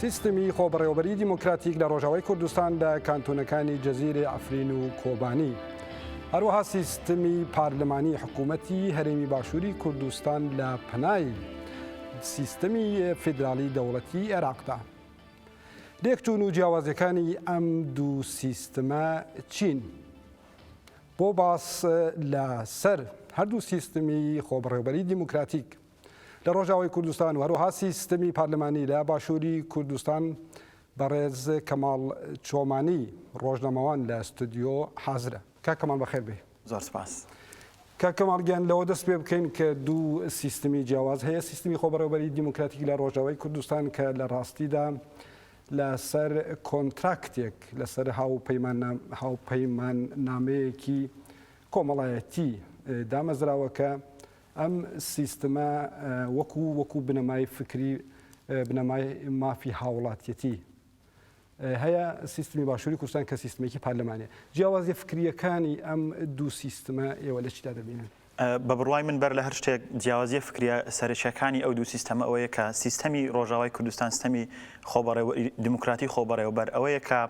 سیستمی خۆبەڕێوەبەریی دیموکراتیک لە ڕۆژاوای کوردستان لە کانتۆنەکانی جزیرەی عەفرین و کۆبانی، هەروەها سیستمی پارلمانی حکوومەتی هەرێمی باشووری کوردستان لە پەنای سیستمی فیدراڵی دەوڵەتی عێراقدا. لێکچوون و جیاوازیەکانی ئەم دوو سیستمە چین؟ بۆ باس لە سەر هەردوو سیستمی خۆبڕێوبەری دیموکراتیک لە ڕۆژاوای کوردستان و هەروەها سیستمی پارلمانی لە باشووری کوردستان بەڕێز کەماڵ چۆمانی ڕۆژنامەوان لە ستۆدیۆ حازرە کاک کەماڵ بەخێر بێی زۆر سپاس کاک کەماڵ گیان لەوە دەست پێ بکەین کە دوو سیستمی جیاواز هەیە سیستمی خۆبەڕێوەبەری دیموکراتیک لە ڕۆژاوای کوردستان کە لە ڕاستیدا لەسەر کۆنتراکتێک لەسەر هاوپەیمان نامەیەکی کۆمەڵایەتی دامەزراوەکە ئەم سیستمە وەکو وەکو بنەمای فکری بنەمای مافی هاوڵاتیەتی هەیە سیستمی باشووری کوردستان کە سیستمێکی پارلەمانێ جیاوازی فکریەکانی ئەم دوو سیستمە ئێوە لە چیدا دەبینن بە بڕوای من بەر لە هەر شتێک جیاوازیە فکریە سەرچەکانی ئەو دوو سیستەمە ئەوەیە کە سیستەمی ڕۆژاوای کوردستان سیستەمی خۆبەڕێ دیموکراتی خۆبەڕێوەبەر ئەوەیە کە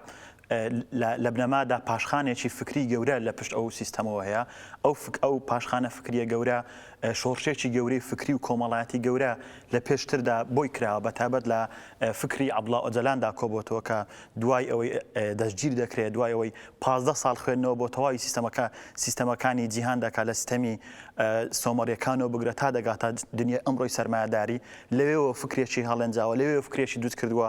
لە بنەمادا پاشخانێکی فکری گەورە لە پشت ئەو سیستەمەوە هەیە، ئەو ئەو پاشخانە فکریە گەورە شۆڕشێکی گەورەی فکری و کۆمەڵایەتی گەورە لە پێشتردا بۆی کراوە بە تایبەت لە فکری عەبدوڵا ئۆجەلاندا کۆبۆتەوە کە دوای ئەوەی دەستگیر دەکرێت دوای ئەوەی پازدە ساڵ خوێندنەوە بۆ تەواوی سیستەمەکە سیستەمەکانی جیهان دەکات لە سیستەمی سۆمەریەکانەوە بگرە تا دەگاتە دنیای ئەمڕۆی سەرمایەداری لەوێەوە فکرێکی هەڵێنجاوە لەوێ فکرێکی دوست کردووە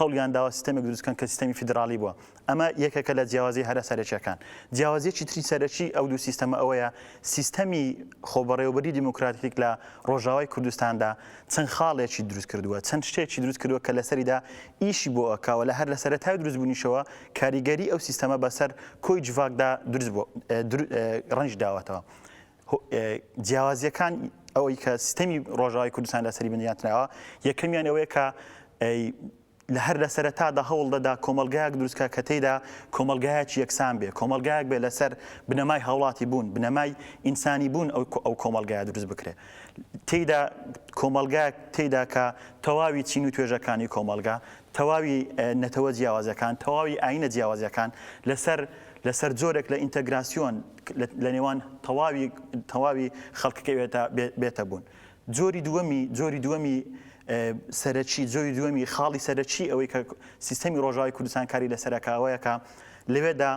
هەوڵیان داوە سیستەمێک دروست بکەن کە سیستەمی فیدراڵی بووە. ئەمە یەکێکە لە جیاوازییە هەرە سەرەکییەکان. جیاوازییەکی تری سەرەکی ئەو دوو سیستەمە ئەوەیە سیستەمی خۆبەڕێوەبەریی دیموکراتیک لە ڕۆژاوای کوردستاندا چەند خاڵێکی دروست کردووە، چەند شتێکی دروست کردووە کە لەسەریدا ئیشی بۆ ئەکا و لە هەر لە سەرەتای دروستبوونیشەوە کاریگەریی ئەو سیستەمە بەسەر کۆی جڤاکدا دروست بووە، ڕەنگی داوەتەوە. جیاوازیەکان ئەوەی کە سیستەمی ڕۆژاوی کوردستان لەسەری بنیاتناوە یەکەمیان ئەوەیە کە لە هەر لە سەرتادا هەوڵ دەدا کۆمەلگایەک دروستکە کە تێدا کۆمەلگایەکی یەکسان بێ کۆمەلگایەک بێ لەسەر بنەمای هاوڵاتی بوون بنەمای ئینسانی بوون ئەو ئەو کۆمەلگای دروست بکرێ تێدا کۆمەلگا تێدا کە تەواوی چین و توێژەکانی کۆمەلگا تەواوی نەتەوە جیاوازەکان تەواوی ئاینە جیاوازەکان لەسەر لەسەر جۆرێک لە ئینتەگراسیۆن لە نێوان تەواوی تەواوی خەڵک کەوێتە بێتە بوون. جۆری دووەمی جۆری دووەمی سەرەکی جۆری دووەمی خاڵی سەرەکی ئەوەی کە سیستەمی ڕۆژاوی کوردستان کاری لە سەرکاوەیەکە لەوێدا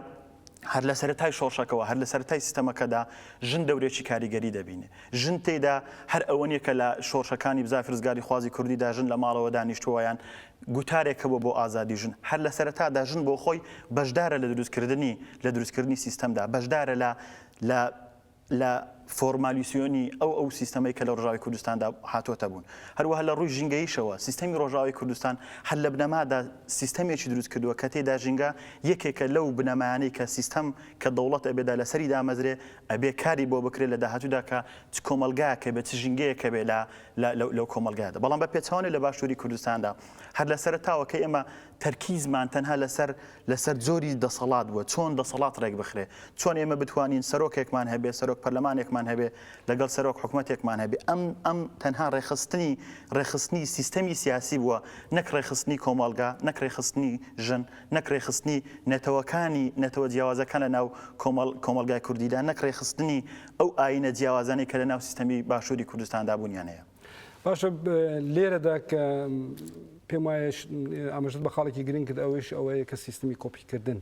هەر لە سەرای شۆڕشەکەەوە هەر لە سەرای سیستەمەکەدا ژن دەورێکی کاریگەری دەبینێ ژن تێدا هەر ئەوە نیە کە لە شۆرشەکانی بزاف رزگاری خوازی کوردیدا ژن لە ماڵەوە دانیشتووەیان گوتارێک هەبووە بۆ ئازادی ژن، هەر لە سەرەتادا ژن بۆ خۆی بەشدارە لە دروستکردنی لە دروستکردنی سیستەمدا، بەشدارە لە لە لە فۆرمالیسیۆنی ئەو ئەو سیستەمەی کە لە ڕۆژاوی کوردستاندا هاتۆتە بوون. هەروەها لە ڕووی ژینگەییشەوە سیستەمی ڕۆژاوی کوردستان هەر لە بنەمادا سیستەمێکی دروست کردووە کە تێدا ژینگە یەکێکە لەو بنەمایانەی کە سیستەم کە دەوڵەت ئەبێدا لەسەری دامەزرێ ئەبێ کاری بۆ بکرێ لە داهاتوودا کە چ کۆمەڵگایەک هەبێ چ ژینگەیەک هەبێ لە لەو کۆمەڵگایەدا بەڵام بە پێچەوانەوە لە باشووری کوردستاندا هەر لە سەرەتاوە کە ئێمە تەرکیزمان تەنها لەسەر لەسەر جۆری دەسەڵات بووە چۆن دەسەڵات ڕێک بخرێ چۆن ئێمە بتوانین سەرۆکێکمان هەبێ سەرۆک پەرلەمانێکمان هەبێ لەگەڵ سەرۆک حکوومەتێکمان هەبێ ئەم ئەم تەنها ڕێخستنی ڕێخستنی سیستەمی سیاسی بووە نەک ڕێخستنی کۆمەڵگا نەک ڕێخستنی ژن نەک ڕێخستنی نەتەوەکانی نەتەوە جیاوازەکان لە ناو کۆمەڵ کۆمەلگای کوردیدا نەک ڕێخستنی ئەو ئایینە جیاوازانەی کە لە ناو سیستەمی باشووری کوردستاندا بوونیان هەیە. باشە لێرەدا کە پێم وایە ئاماژەت بە خاڵێکی گرنگ کرد ئەوەیش ئەوەیە کە سیستمی کۆپیکردن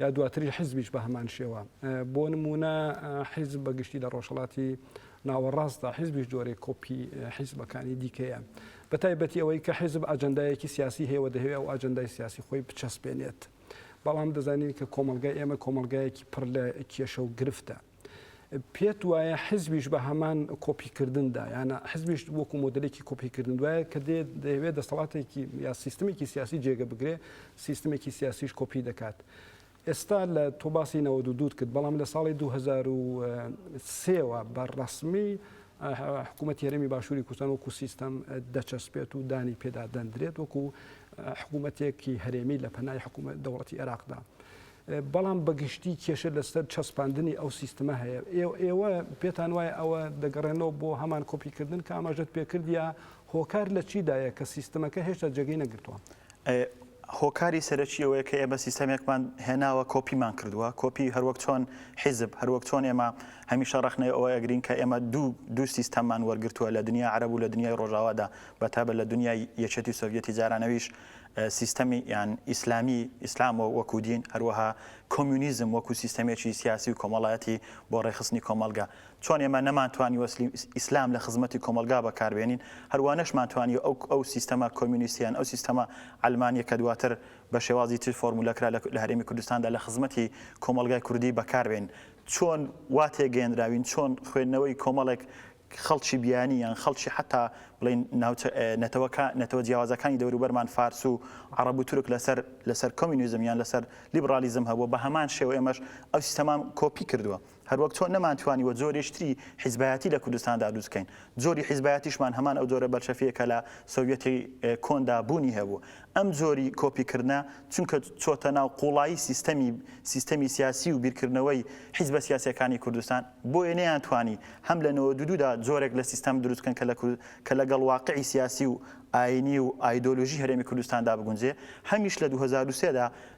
یا دواتری حیزبیش بە هەمان شێوە بۆ نمونە حیزب بەگشتی لە ڕۆژهڵاتی ناوەڕاستدا حیزبیش جۆرێک کۆپی حیزبەکانی دیکەیە بە تایبەتی ئەوەی کە حیزب ئاجندایەکی سیاسی هەیەوە دەهەوێ ئەو ئاجندای سیاسی خۆی بچەسپێنێت بەڵام دەزانین کە کۆمەلگای ئێمە کۆمەلگایەکی پڕ لە کێشە و گرفتە پێت وایە حزبیش بە هەمان کۆپیکردندا یانە حزبیش وەکو مۆدلێکی کۆپیکردن دوایە کە دێ دەیەوێت دەسەڵاتێکی یا سیستمێکی سیاسی جێگە بگرێ سیستمێکی سیاسیش کۆپی دەکات. ئێستا لە تۆ باسی نەوە دوو دوور کرد بەڵام لە ساڵی 2023ەوە بە ڕسمی حکوومەت هێرمی باشووری کوردستان وەکو سیستەم دەچەسپێت و دانی پێدا دەندرێت وەکو حکوومەتێکی هەرێمی لە پەنای حکوومەت دەوڵەتی عێراقدا. بەڵام بە گشتی کێشە لەسەر چەسپاندنی ئەو سیستمە هەیە. ئێوە ئێوە پێتان وایە ئەوە دەگەڕێنەوە بۆ هەمان کۆپی کردن کە ئاماژەت پێ کرد یا هۆکار لە چی دایە کە سیستمەکە هێشتا جێگەی نەگرتووە؟ هۆکاری سەرەکی ئەوەیە کە ئێمە سیستەمێکمان هێناوە کۆپیمان کردووە، کۆپی هەر وەک چۆن حیزب، هەر وەک چۆن ئێمە هەمیشە ڕەخنەی ئەوە ئەگرین کە ئێمە دوو دوو سیستەممان وەرگرتووە لە دنیای عەرەب و لە دنیای ڕۆژاوادا بە تایبەت لە دنیای یەکێتی سۆڤیەتی جاران ئەویش سیستەمی یان ئیسلامی، ئیسلام وەکو دین، هەروەها کۆمیونیزم وەکو سیستەمێکی سیاسی و کۆمەڵایەتی بۆ ڕێکخستنی کۆمەڵگا. چۆن ئێمە نەمانتوانیوە ئیسلام لە خزمەتی کۆمەڵگا بەکاربێنین، هەروا نەشمانتوانیوە ئەو ئەو سیستەمە کۆمیونیستیە یان ئەو سیستەمە عەلمانیە کە دواتر بە شێوازی تر فۆرمولە کرا لە هەرێمی کوردستاندا لە خزمەتی کۆمەڵگای کوردی بەکاربێنین. چۆن وا تێگەیەندراوین، چۆن خوێندنەوەی کۆمەڵێک خەڵکی بیانی یان خەڵکی حەتا بڵێین ناوچە نەتەوە کا نەتەوە جیاوازەکانی دەوروبەرمان فارس و عەڕەب و تورک لەسەر لەسەر کۆمینیزم یان لەسەر لیبڕاڵیزم هەبووە بە هەمان شێوە ئێمەش ئەو سیستەمان کۆپی کردووە هەروەک چۆن نەمانتوانیوە جۆرێکی تری حیزبایەتی لە کوردستاندا دروست کەین جۆری حیزبایەتیشمان هەمان ئەو جۆرە بەلشەفییە کە لە سۆڤیەتی کۆندا بوونی هەبوو ئەم جۆری کۆپی کردنە چونکە چۆتە ناو قوڵایی سیستەمی سیستەمی سیاسی و بیرکردنەوەی حیزبە سیاسیەکانی کوردستان بۆیە نەیانتوانی هەم لە نەوەد و دوو دا جۆرێک لە سیستەم دروست بکەن کە لە کە لە گەڵ واقعی سیاسی و ئاینی و ئایدۆلۆژی هەرێمی کوردستاندا بگونجێ هەمیش لە دوو هەزار و سێ دا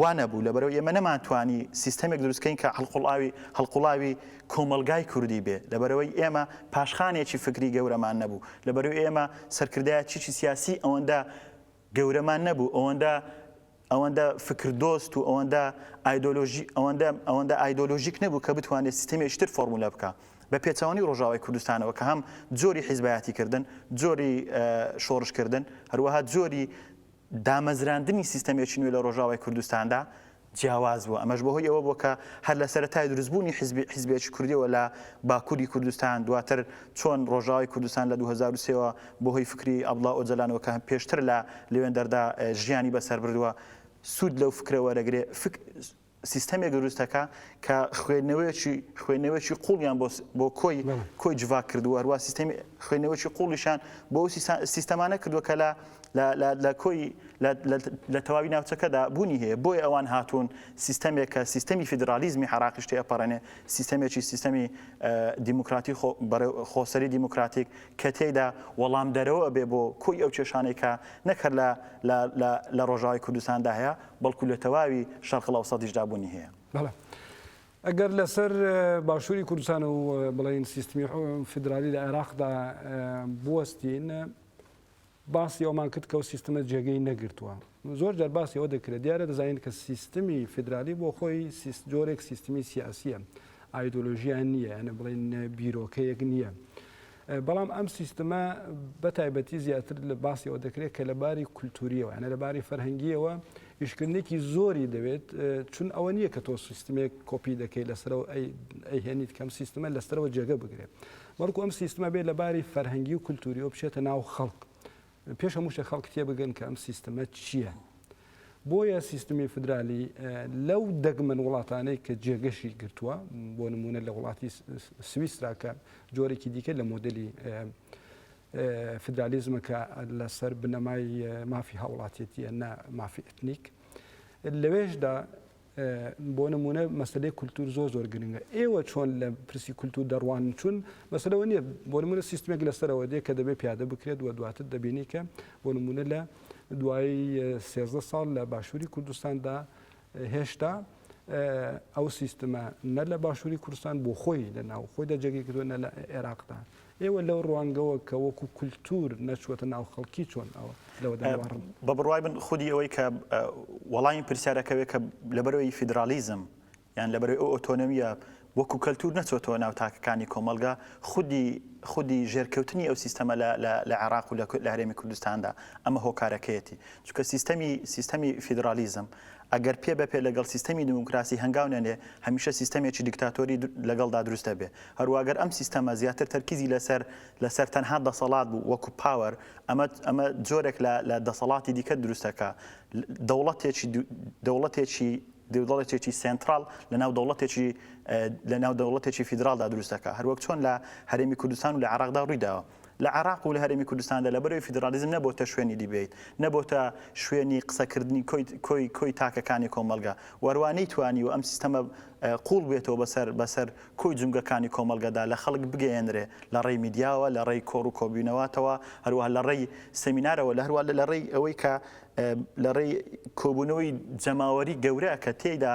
وا نەبوو، لەبەرئەوەی ئێمە نەمانتوانی سیستەمێک دروست کەین کە هەڵقوڵاوی هەڵقوڵاوی کۆمەڵگای کوردی بێ، لەبەرئەوەی ئێمە پاشخانێکی فکری گەورەمان نەبوو، لەبەرئەوەی ئێمە سەرکردایەتیی سیاسیی ئەوەندە گەورەمان نەبوو، ئەوەندە ئەوەندە فکردۆست و ئەوەندە ئایدۆلۆژی ئەوەندە ئەوەندە ئایدۆلۆژیک نەبوو کە بتوانێ سیستەمێکی تر فۆرمولە بکا بە پێچەوانەی ڕۆژاوای کوردستانەوە کە هەم جۆری حیزبایەتیکردن، جۆری شۆڕشکردن، هەروەها جۆری. دامەزراندنی سیستەمێکی نوێ لە ڕۆژاوای کوردستاندا جیاواز بووە، ئەمەش بەهۆی ئەوە بووە کە هەر لە سەرەتای دروستبوونی حیزبی حیزبێکی کوردییەوە لە باکووری کوردستان، دواتر چۆن ڕۆژاوای کوردستان لە دوو هەزار و سێ وە بەهۆی فکری عەبدوڵا ئۆجەلانەوە کە پێشتر لە لوێندەردا ژیانی بەسەربردووە سوود لەو فکرە وەرەگرێ، فکر. سیستەمێک دروست دەکا کە خوێندنەوەیەکی خوێندنەوەیەکی قوڵیان بۆ کۆی کۆی جڤاک کردووە هەروە سیستەمی خوێندنەوەیەکی قوڵیشان بۆ سیستەمانە کردووە کە لە لە کۆی لە تەواوی ناوچەکەدا بوونی هەیە بۆی ئەوان هاتوون سیستەمێک کە سیستەمی فیدرالیزمی حراقیشتی ئەپەڕێنێ سیستەمێکی سیستەمی دیموکراتی خۆسەری دیموکراتیک کە تێدا وەڵام دەرەوە بێ بۆ کۆی ئەو کێشانێکە نەکرد لە لە ڕۆژاوی کوردستاندا هەیە بەڵکو لە تەواوی شەرقلئەوسەتیشدا بوونی هەیە. بەڵێ ئەگەر لەسەر باشووری کوردستان و بڵێین سیستمی فیدرالی لە عێراقدا بوەستین باسی ئەومان کرد کە ئەو سیستمە جێگەی نەگرتووە زۆر جار باسی ئەوە دەکرێت دیارە دەزانین کە سیستمی فیدرالی بۆ خۆی جۆرێک سیستمی سیاسیە ئایدۆلۆژیان نییە یانە بڵێن بیرۆکەیەک نییە. بەڵام ئەم سیستمە بە تایبەتی زیاتر لە باسی ئەوە دەکرێت کە لە باری کولتوریەوە یانە لە باری فەرهەنگیەوە ئیشکردنێکی زۆری دەوێت چون ئەوە نییە کە تۆ سیستمێک کۆپی دەکەی لەسەرەوە ئەیهێنیت کەم سیستمە لەسەرەوە جێگە بگرێت بەڵکو ئەم سیستمە بێت لە باری فەرهەنگی و کولتوریەوە بچێتە ناو خەڵک پێش هەموو شتێک خەڵک تێبگەن کە ئەم سیستمە چییە. بۆیە سیستمی فدرالی لەو دەگمەن وڵاتانەی کە جێگەشی گرتووە بۆ نمونە لە وڵاتی سویسراکە جۆرێکی دیکە لە مۆدلی فدرالیزمە کە لەسەر بنەمای مافی هاوڵاتێتیە نە مافی ئەتنیک لەوێشدا بۆ نمونە مەسەلەی کولتور زۆر زۆر گرنگە ئێوە چۆن لە پرسی کولتور دەڕوان چون مەسەرەوە نییە بۆ نمونە سیستمێک لەسەرەوە دێ کە دەبێت پیادە بکرێت و دواتر دەبینی کە بۆ نمونە لە دوای سێزدە ساڵ لە باشووری کوردستاندا هێشتا ئەو سیستمە نە لە باشووری کوردستان بۆ خۆی لە ناو خۆی دەجێگەی کردو نە لە عێراقدا ئێوە لەو ڕوانگەوە کە وەکو کولتوور نەچووەتە ناو خەڵکی چۆن ئەوە لەوە دەگەڕن؟ بە بڕوای من خودی ئەوەی کە وەڵامی پرسیارەکە بێ کە لەبەرەوەی فیدراڵیزم یان لەبەرەوەی ئەو ئۆتۆنۆمییە وەکو کەلتوور نەچۆتەوە ناو تاکەکانی کۆمەڵگە خودی خودی ژێرکەوتنی ئەو سیستەمە لە لە لە عێراق و لە هەرێمی کوردستاندا ئەمە هۆکارەکەیەتی چونکە سیستەمی سیستەمی فیدراڵیزم ئەگەر پێ بە پێ لەگەڵ سیستەمی دیموکراسی هەنگاو نەنێ، هەمیشە سیستەمێکی دیکتاتۆری لەگەڵدا دروست دەبێ. هەروە گەر ئەم سیستەمە زیاتر تەرکیزی لەسەر لەسەر تەنها دەسەڵات بوو وەکو پاوەر، ئەمە ئەمە جۆرێک لە لە دەسەڵاتی دیکە دروست دەکا. دەوڵەتێکی دەوڵەتێکی دەوڵەتێکی سێنتراڵ لەناو دەوڵەتێکی لەناو دەوڵەتێکی فیدراڵدا دروست دەکا. هەروەک چۆن لە هەرێمی کوردستان و لە عێراقدا ڕووی داوە. لە عێراق و لە هەرێمی کوردستاندا لەبەرەوەی فیدراڵیزم نەبۆتە شوێنی دیبەیت، نەبۆتە شوێنی قسەکردنی کۆی کۆی تاکەکانی کۆمەڵگە، وەروا نەیتوانیوە ئەم سیستەمە قووڵ بێتەوە بەسەر بەسەر کۆی جومگەکانی کۆمەڵگەدا لە خەڵک بگەیەنرێ لە ڕێی میدیاوە لە ڕێی کۆڕ و کۆبوونەواتەوە هەروەها لە ڕێی سێمینارەوە لە هەروە لە ڕێی ئەوەی کە لە ڕێی کۆبوونەوەی جەماوەری گەورە کە تێیدا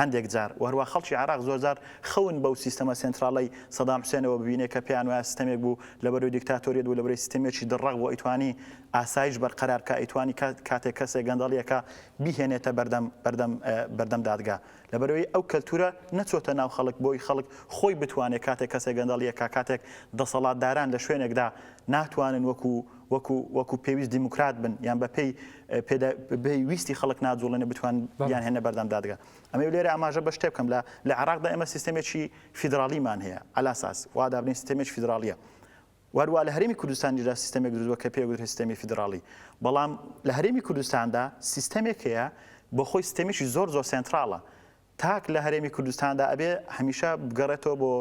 هەندێک جار و هەروەها خەڵکی عێراق زۆر جار خەون بەو سیستەمە سێنتراڵەی سەدام حوسێنەوە ببینێ کە پێیان وایە سیستەمێک بوو لەبەروی دیکتاتۆریەت بوو لەبەروی سیستەمێکی دڕەق بوو ئەیتوانی ئاسایش بەرقەرار بکا ئەیتوانی کاتێک کەسێک گەندەڵی ئەکا بیهێنێتە بەردەم بەردەم بەردەم دادگا لەبەروی ئەو کەلتورە نەچۆتە ناو خەڵک بۆی خەڵک خۆی بتوانێ کاتێک کەسێک گەندەڵی ئەکا کاتێک دەسەڵاتداران لە شوێنێکدا ناتوانن وەکو وەکو وەکو پێویست دیموکرات بن یان بە پێی پێدا بەی ویستی خەڵک ناجوڵێنە بتوان یان هێنە بەردەم دادگا ئەمە لێرە ئاماژە بە شتێ بکەم لە لە عراقدا ئێمە سیستەمێکی فیدراڵیمان هەیە ئەلاساس وا دابنین سیستەمێک فیدراڵیە وەروە لە هەرمی کوردستانیدا سیستەمێک درووە کە پێ گوتر سیستەمی فیدراڵی بەڵام لە هەرمی کوردستاندا سیستەمێک هەیە بۆ خۆی سیستەمێکی زۆر زۆر سنتراڵە تاک لە هەرێمی کوردستاندا ئەبێ هەمیشە بگەڕێتەوە بۆ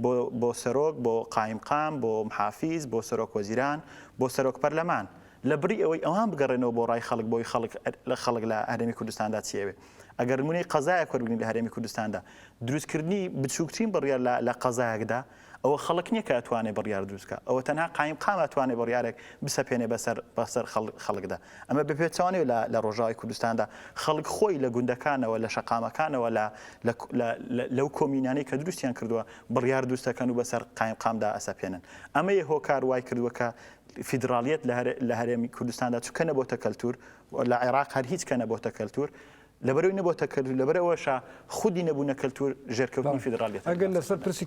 بۆ بۆ سەرۆک، بۆ قایمقام، بۆ محافیز، بۆ سەرۆک وەزیران، بۆ سەرۆک پەرلەمان. لە بڕی ئەوەی ئەوان بگەڕێنەوە بۆ ڕای خەڵک بۆی خەڵک لە خەڵک لە هەرێمی کوردستاندا چی ئەوێ. ئەگەر نموونەی قەزایەک وەربگرین لە هەرێمی کوردستاندا دروستکردنی بچووکترین بڕیار لە لە قەزایەکدا، ئەوە خەڵک نیە کە ئەتوانێ بڕیار دروست کا ئەوە تەنها قایمقام ئەتوانێ بڕیارێک بسەپێنێ بەسەر بەسەر خەڵکدا ئەمە بەپێچەوانەوە لە لە ڕۆژاوای کوردستاندا خەڵک خۆی لە گوندەکانەوە لە شەقامەکانەوە لە لە لە لەو کۆمینانەی کە دروستیان کردووە بڕیار دروستەکەن و بەسەر قایمقامدا ئەسەپێنن ئەمەیە هۆکار وای کردووە کە فیدراڵیەت لە هەرێمی کوردستاندا چکە نەبۆتە کەلتور لە عێراق هەر هیچ کە نەبۆتە کەلتور لەبەرەوەی نەبۆتە کەلتور لەبەرەوەشە خودی نەبوونە کەلتور ژێرکەوتنی فیدراڵیەت ئەگەر لەسەر پرسی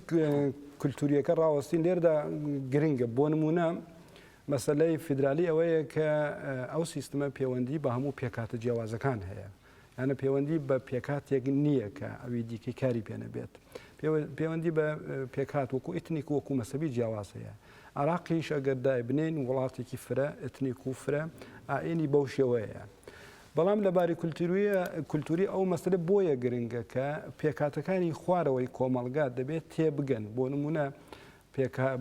کولتوریەکە ڕاوەستین لێردا گرنگە بۆ نمونە مەسلەی فیدرالی ئەوەیە کە ئەو سیستمە پەیوەندی بە هەموو پێکاتە جیاوازەکان هەیە یانە پەیوەندی بە پێکاتێک نییە کە ئەوی دیکەی کاری پێنەبێت پەیوەندی بە پێکات وەکو ئیتنیک وەکو مەسەبی جیاواز هەیە عراقیش ئەگەر دایبنین وڵاتێکی فرە ئەتنیک و فرە ئاینی بەو شێوەیە بەڵام لە باری کولتووری ئەو مەسەلە بۆیە گرنگە کە پێکهاتەکانی خوارەوەی کۆمەڵگا دەبێت تێبگەن بۆ نمونە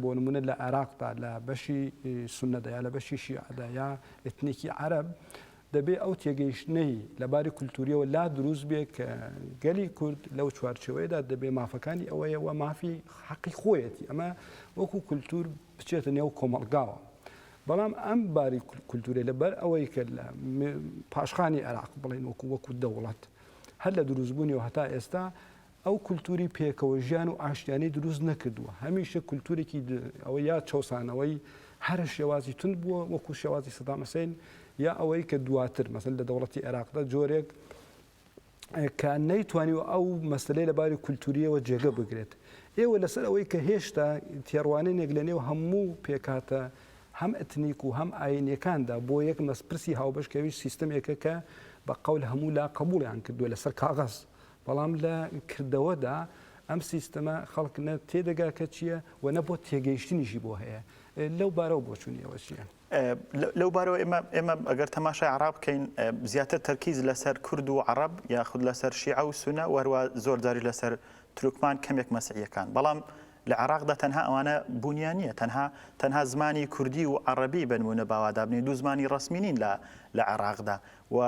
بۆ نمونە لە عێراقدا لە بەشی سنەدا یا لە بەشی شیعدا یا ئتنیکی عرب دەبێ ئەو تێگەیشتنەی لە باری کولتوریەوە لا دروست بێ کە گەلی کورد لەو چوارچەوەیەدا دەبێ مافەکانی ئەوەیەوە مافی حەقی خۆیەتی ئەمە وەکو کولتور بچێتە نێو کۆمەڵگاوە بەڵام ئەم باری کولتورە لەبەر ئەوەی کە لە پاشخانی عێراق بڵێن وەکو وەکو دەوڵەت هەر لە دروستبوونی و هەتا ئێستا ئەو کولتوری پێکەوە ژیان و ئاشتیانی دروست نەکردووە هەمیشە کولتورێکی ئەوە یا چەسانەوەی هەرە شێوازی تون بووە وەکو شێوازی سەدامەسین یا ئەوەی کە دواتر مەسن لە دەوڵەتی عێراقدا جۆرێک کە نەیتوانی و ئەو مەسلەی لە باری کولتوریەوە جێگە بگرێت ئێوە لەسەر ئەوەی کە هێشتا تێڕوانێنێک لە نێو هەموو پێکاتە هەم ئەتنیک و هەم ئاینەکاندا بۆ یەک مەسپرسی هاوبەش کەوی سیستمێکە کە بە قەول هەموو لا قبولیان کردووە لەسەر کاغەز بەڵام لە کردەوەدا ئەم سیستەمە خەڵک نە تێدەگا کە چییە و نە بۆ تێگەیشتنیشی بۆ هەیە لەو بارەوە بۆچوونیەوە چییە؟ لەو بارەوە ئێمە ئێمە ئەگەر تەماشای عەڕاب بکەین زیاتر تەرکیز لەسەر کورد و عەڕەب یاخود لەسەر شیعە و سونە وەروا زۆر جاری لەسەر تورکمان کەمێک مەسیحیەکان بەڵام لە عێراقدا تەنها ئەوانە بوونیان نییە تەنها تەنها زمانی کوردی و عەڕەبی بنمونە باوادابنی دوو زمانی ڕسمی نین لە لە عێراقدا و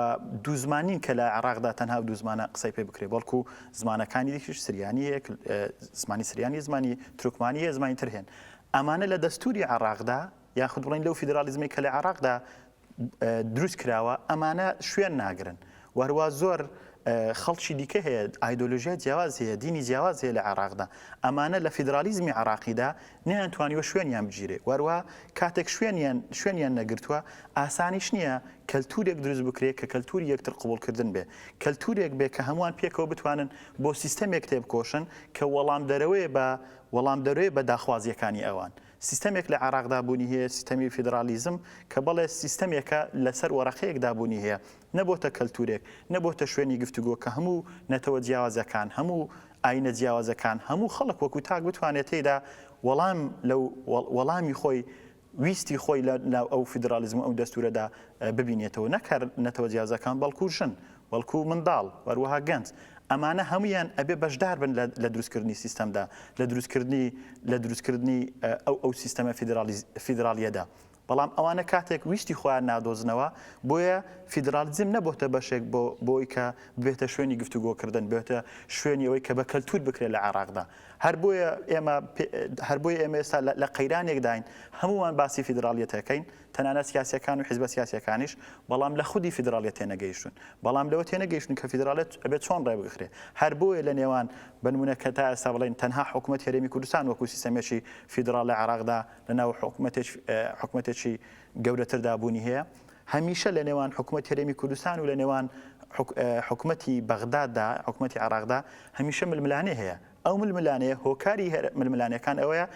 دوو زمانین کە لە عێراقدا تەنها دوو زمانە قسەی پێ بکرێ بەڵکو زمانەکانی دیکیش سریانیەک زمانی سریانی زمانی ترکمانیە زمانی تر هێن ئەمانە لە دەستوری عێراقدا یاخود بڵێین لەو فیدراڵیزمەی کە لە عێراقدا دروست کراوە ئەمانە شوێن ناگرن و هەروە زۆر خەڵکی دیکە هەیە ئایدۆلۆژیای جیاواز هەیە دینی جیاواز هەیە لە عراقدا ئەمانە لە فیدرالیزمی عراقیدا نیان توانیوە شوێنیان بگیرێ وەروە کاتێک شوێنیان شوێنیان نەگرتووە ئاسانیش نییە کەلتورێک دروست بکرێت کە کەلتوری یەکتر قوبولکردن بێ کەلتورێک بێ کە هەمووان پێکەوە بتوانن بۆ سیستەمێک تێبکۆشن کە وەڵام دەرەوەی بە وەڵام دەروێ بە داخوازیەکانی ئەوان سیستەمێک لە عێراقدا بوونی هەیە، سیستەمی فیدرالیزم، کە بەڵێ سیستەمێکە لەسەر وەرەقەیەکدا بوونی هەیە، نەبۆتە کەلتوورێک، نەبۆتە شوێنی گفتوگۆ کە هەموو نەتەوە جیاوازەکان، هەموو ئایینە جیاوازەکان، هەموو خەڵک وەکوو تاک بتوانێت تێیدا وەڵام لە وەڵامی خۆی، ویستی خۆی لە ناو ئەو فیدرالیزم و ئەو دەستوورەدا ببینێتەوە، نەک هەر نەتەوە جیاوازەکان بەڵکوو ژن. بەڵکو منداڵ و هەروەها گەنج، ئەمانە هەموویان ئەبێ بەشدار بن لە لە دروستکردنی سیستەمدا، لە دروستکردنی لە دروستکردنی ئەو ئەو سیستەمە فیدرالیز فیدرالیەدا، بەڵام ئەوانە کاتێک ویستی خۆیان نادۆزنەوە، بۆیە فیدرالیزم نەبۆتە بەشێک بۆ بۆی کە ببێتە شوێنی گفتوگۆکردن، بێتە شوێنی ئەوەی کە بە کەلتور بکرێ لە عێراقدا، هەر بۆیە ئێمە پێ هەر بۆیە ئێمە ئێستا لە لە قەیرانێکداین هەموومان باسی فیدرالیەت ئەکەین، تەنانەت سیاسیەکان و حیزبە سیاسیەکانیش، بەڵام لە خودی فیدراڵیەت تێنەگەیشتوون، بەڵام لەوە تێنەگەیشتوون کە فیدراڵیەت ئەبێت چۆن ڕێبگخرێت، هەر بۆیە لە نێوان بە نموونە کە تا ئێستا بڵێین تەنها حکومەت هەرێمی کوردستان وەکو سیستەمێکی فیدراڵ لە عێراقدا لە ناو حکومەتێکی گەورەتردا بوونی هەیە، هەمیشە لە نێوان حکومەت هەرێمی کوردستان و لە نێوان حکومەتی بەغداددا، حکومەتی عێراقدا هەمیشە ململانێ هەیە، ئەو ململانێیە هۆکاری هەر ململانێکان ئەوەیە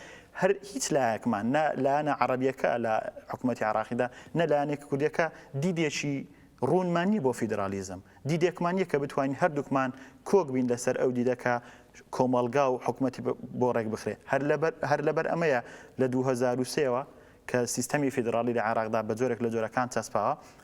هەر هیچ لایەکمان نە لایەنە عەڕەبیەکە لە حکوومەتی عراقیدا نە لایەنێک کوردەکە دیدێکی ڕوونمانی بۆ فیدرالیزم دیدێکمان یە کە بتوانین هەردووکمان کۆک بین لەسەر ئەو دیدەکە کۆمەڵگا و حکوومەتی بۆ ڕێک بخرێ هەر لەبەر هەر لەبەر ئەمەیە لە 2023ەوە کە سیستەمی فیدراڵی لە عێراقدا بە جۆرێک لە جۆرەکان چەسپاوە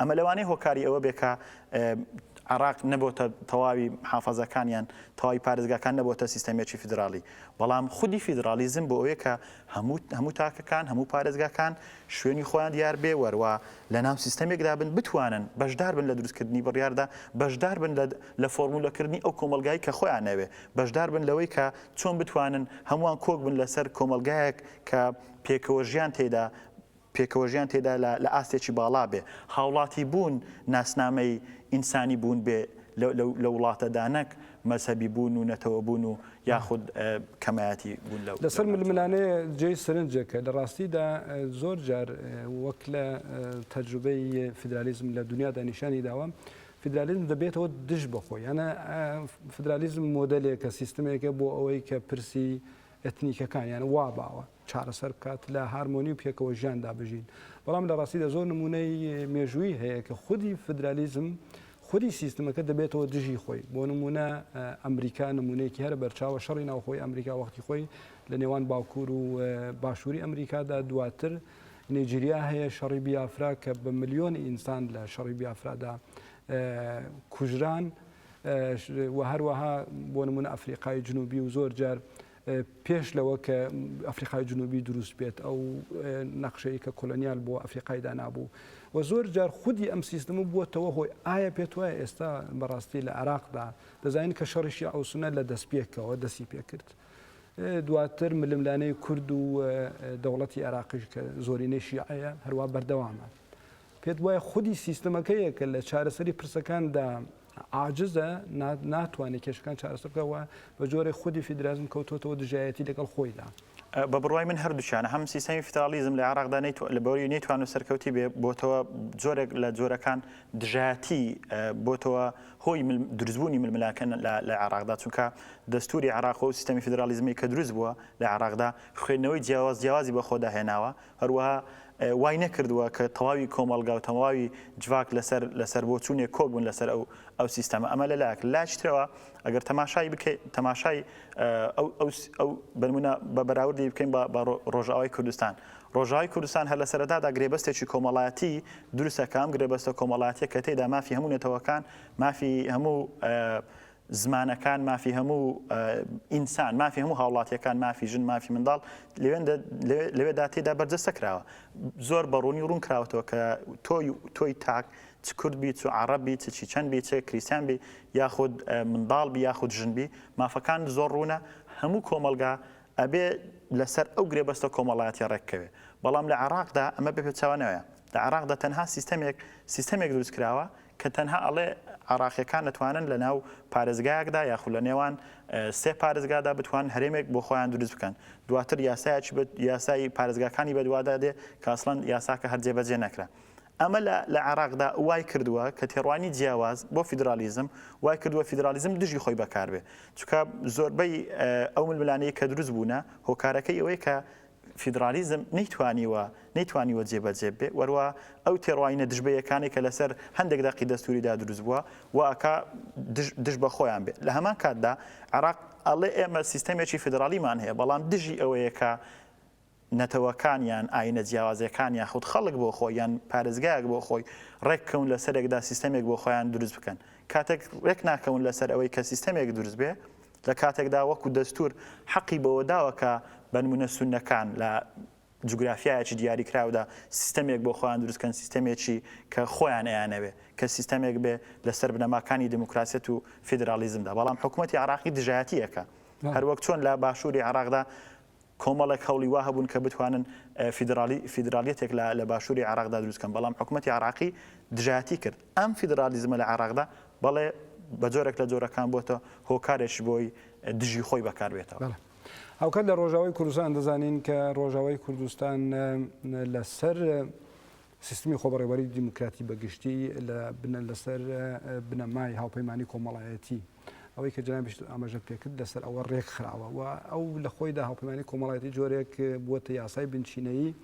ئەمە لەوانەیە هۆکاری ئەوە بێ کە عراق نەبۆتە تەواوی حافەزەکانیان تەواوی پارێزگاکان نەبۆتە سیستەمێکی فیدراڵی بەڵام خودی فیدراڵیزم بۆ ئەوەیە کە هەموو هەموو تاکەکان هەموو پارێزگاکان شوێنی خۆیان دیار بێ وەروە لە ناو سیستەمێکدا بن بتوانن بەشدار بن لە دروستکردنی بڕیاردا بەشدار بن لە فۆرمولەکردنی ئەو کۆمەلگای کە خۆیان ناوێ بەشدار بن لەوەی کە چۆن بتوانن هەمووان کۆک بن لەسەر کۆمەلگایەک کە پێکەوە ژیان تێدا پێکەوەژیان تێدا لە ئاستێکی باڵا بێ، هاوڵاتیبوون ناسنامەی ئینسانی بوون بێ لە وڵاتەدا نەک مەزهەبی بوون و نەتەوەبوون و یاخود کەمایەتی بوون لە لەسەر ململانێ جێی سەرنجێکە لە ڕاستیدا زۆر جار وەک لە تەجروبەی فیدرالیزم لە دونیادا نیشانی داوە فیدرالیزم دەبێتەوە دژ بەخۆی یانە فیدرالیزم مۆدەلێکە سیستمێکە بۆ ئەوەی کە پرسی ئەتنیکەکان یان وا باوە چارەسەر بکات لە هارمۆنی و پێکەوە ژیاندا بژین بەڵام لە ڕاستیدا زۆر نمونەی مێژووی هەیە کە خودی فدرالیزم خودی سیستمەکە دەبێتەوە دژی خۆی بۆ نمونە ئەمریکا نمونەیەکی هەر بەرچاوە شەڕی ناوخۆی ئەمریکا وەختی خۆی لە نێوان باکوور و باشووری ئەمریکادا دواتر نیجیریا هەیە شەڕی بیافرا کە بە ملیۆن ئینسان لە شەڕی بیافرادا کوژران و هەروەها بۆ نمونە ئەفریقای جنوبی و زۆر جار پێش لەوە کە ئەفریقای جنوبی دروست بێت ئەو نەخشەیە کە کۆلۆنیال بۆ ئەفریقای دانابوو و زۆر جار خودی ئەم سیستم بووەتەوە هۆی ئایا پێت وایە ئێستا بەڕاستی لە عراقدا دەزانین کە شەڕیشی ئەوسنە لە دەست پێکەوە دەستی پێکرد دواتر ململانەی کورد و دەوڵەتی عراقیش کە زۆرینەی شیعەیە هەروە بەردەوامە پێت وایە خودی سیستمەکەیە کە لە چارەسەری پرسەکاندا عاجزە ناتوانێت کێشەکان چارەسەر بکات و بە جۆرێک خودی فیدرالیزم کەوتووەتەوە دژایەتی لەگەڵ خۆیدا. بە بڕوای من هەردووکیانە، هەم سیستەمی فیدرالیزم لە عێراقدا نەیتوانی، لەبەوەی نەیتوانووە سەرکەوتی بێ، بۆتەوە جۆرێک لە جۆرەکان دژایەتی، بۆتەوە هۆی دروستبوونی ململانکە لە عێراقدا، چونکە دەستووری عێراق و سیستەمی فیدرالیزمی کە دروست بووە لە عێراقدا خوێندنەوەی جیاواز جیاوازی بەخۆدا هێناوە، هەروەها وای نەکردووە کە تەواوی کۆمەڵگا و تەواوی جڤاک لەسەر لەسەر بۆچوونێک کۆک بن لەسەر ئەو ئەو سیستەمە ئەمە لە لایەک لە لایەکی ترەوە ئەگەر تەماشای بکەی تەماشای ئەو ئەو ئەو بەنمونە بە بەراوردی بکەین بە بە ڕۆژاوای کوردستان ڕۆژاوای کوردستان هەر لە سەرەتادا گرێبەستێکی کۆمەڵایەتی دروستەکە ئەم گرێبەستە کۆمەڵاتیە کە تێدا مافی هەموو نەتەوەکان مافی هەموو زمانەکان، مافی هەموو ئینسان، مافی هەموو هاوڵاتییەکان، مافی ژن، مافی منداڵ لەوێدا تێدا بەرجەستە کراوە. زۆر بە ڕوونی ڕوون کراوەتەوە کە تۆ تۆی تاک چ کورد بی، چ عەڕەب بی، چ چیچەن بی، چ کریستیان بی یاخود منداڵ بی یاخود ژن بی، مافەکان زۆر ڕوونە. هەموو کۆمەڵگا ئەبێ لەسەر ئەو گرێبەستە کۆمەڵایەتییە ڕێک بکەوێ. بەڵام لە عێڕاقدا ئەمە بە پێچەوانەوەیە. لە عێڕاقدا تەنها سیستەمێک سیستەمێک دروست کراوە کە تەنها ئەڵێ عێڕاقیەکان ئەتوانن لەناو پارێزگایەکدا یاخود لە نێوان سێ پارێزگادا بتوانن هەرێمێک بۆ خۆیان دروست بکەن دواتر یاسایەکی بە یاسای پارێزگاکانی بەدوادا دێ کە ئەسڵەن یاساکە هەر جێبەجێ نەکرا ئەمە لە لە عێڕاقدا وای کردووە کە تێڕوانی جیاواز بۆ فیدرالیزم وای کردووە فیدرالیزم دژی خۆی بەکار بێ چونکە زۆربەی ئەو ململانێی کە دروست بوونە هۆکارەکەی ئەوەیە کە فیدرالیزم نەیتوانیوە نەیتوانیوە جێبەجێ بێ وەروا ئەو تێڕوانینە دژبەیەکانەی کە لەسەر هەندێک دەقی دەستووریدا دروست بووە وا ئەکا دژ بە خۆیان بێت لە هەمان کاتدا عێراق ئەڵێ ئێمە سیستەمێکی فیدرالیمان هەیە بەڵام دژی ئەوەیە کە نەتەوەکانیان ئاینە جیاوازەکانیان خود خەڵک بۆ خۆی یان پارێزگایەک بۆ خۆی ڕێککەون لە سەرێکدا سیستەمێک بۆ خۆیان دروست بکەن کاتێک ڕێک ناکەون لەسەر ئەوەی کە سیستەمێک دروست بێ لە کاتێکدا وەکو دەستور حەقی بەوەداوە کە بەنمونە سوننەکان لە جوگرافیایەکی دیاریکراودا سیستەمێک بۆ خۆیان دروست کەن سیستەمێکی کە خۆیان ئەیانەوێ کە سیستەمێک بێ لەسەر بنەماکانی دیموکراسیەت و فیدرالیزمدا بەڵام حکومەتی عراقی دژایەتی ئەکا هەروەک چۆن لە باشوری عراقدا کۆمەڵێک هەوڵی وا هەبوون کە بتوانن فیدراڵی فیدراڵیەتێک لە لە باشووری عێراقدا دروست بکەن، بەڵام حکومەتی عێراقی دژایەتی کرد. ئەم فیدراڵیزمە لە عێراقدا بەڵێ بە جۆرێک لە جۆرەکان بۆتە هۆکارێکش بۆی دژی خۆی بەکار بێتەوە. بەڵێ. هاوکات لە ڕۆژاوای کوردستان دەزانین کە ڕۆژاوای کوردستان لەسەر سیستمی خۆبەڕێوەری دیموکراتی بە گشتی لە بنە لەسەر بنەمای هاوپەیمانی کۆمەڵایەتی ئەوەی کە جنابیش ئاماژە پێکرد لەسەر ئەوە ڕێک خراوە و ئەو لە خۆیدا هاوپەیمانی کۆمەڵایەتی جۆرێک بووەتە یاسای بنچینەیی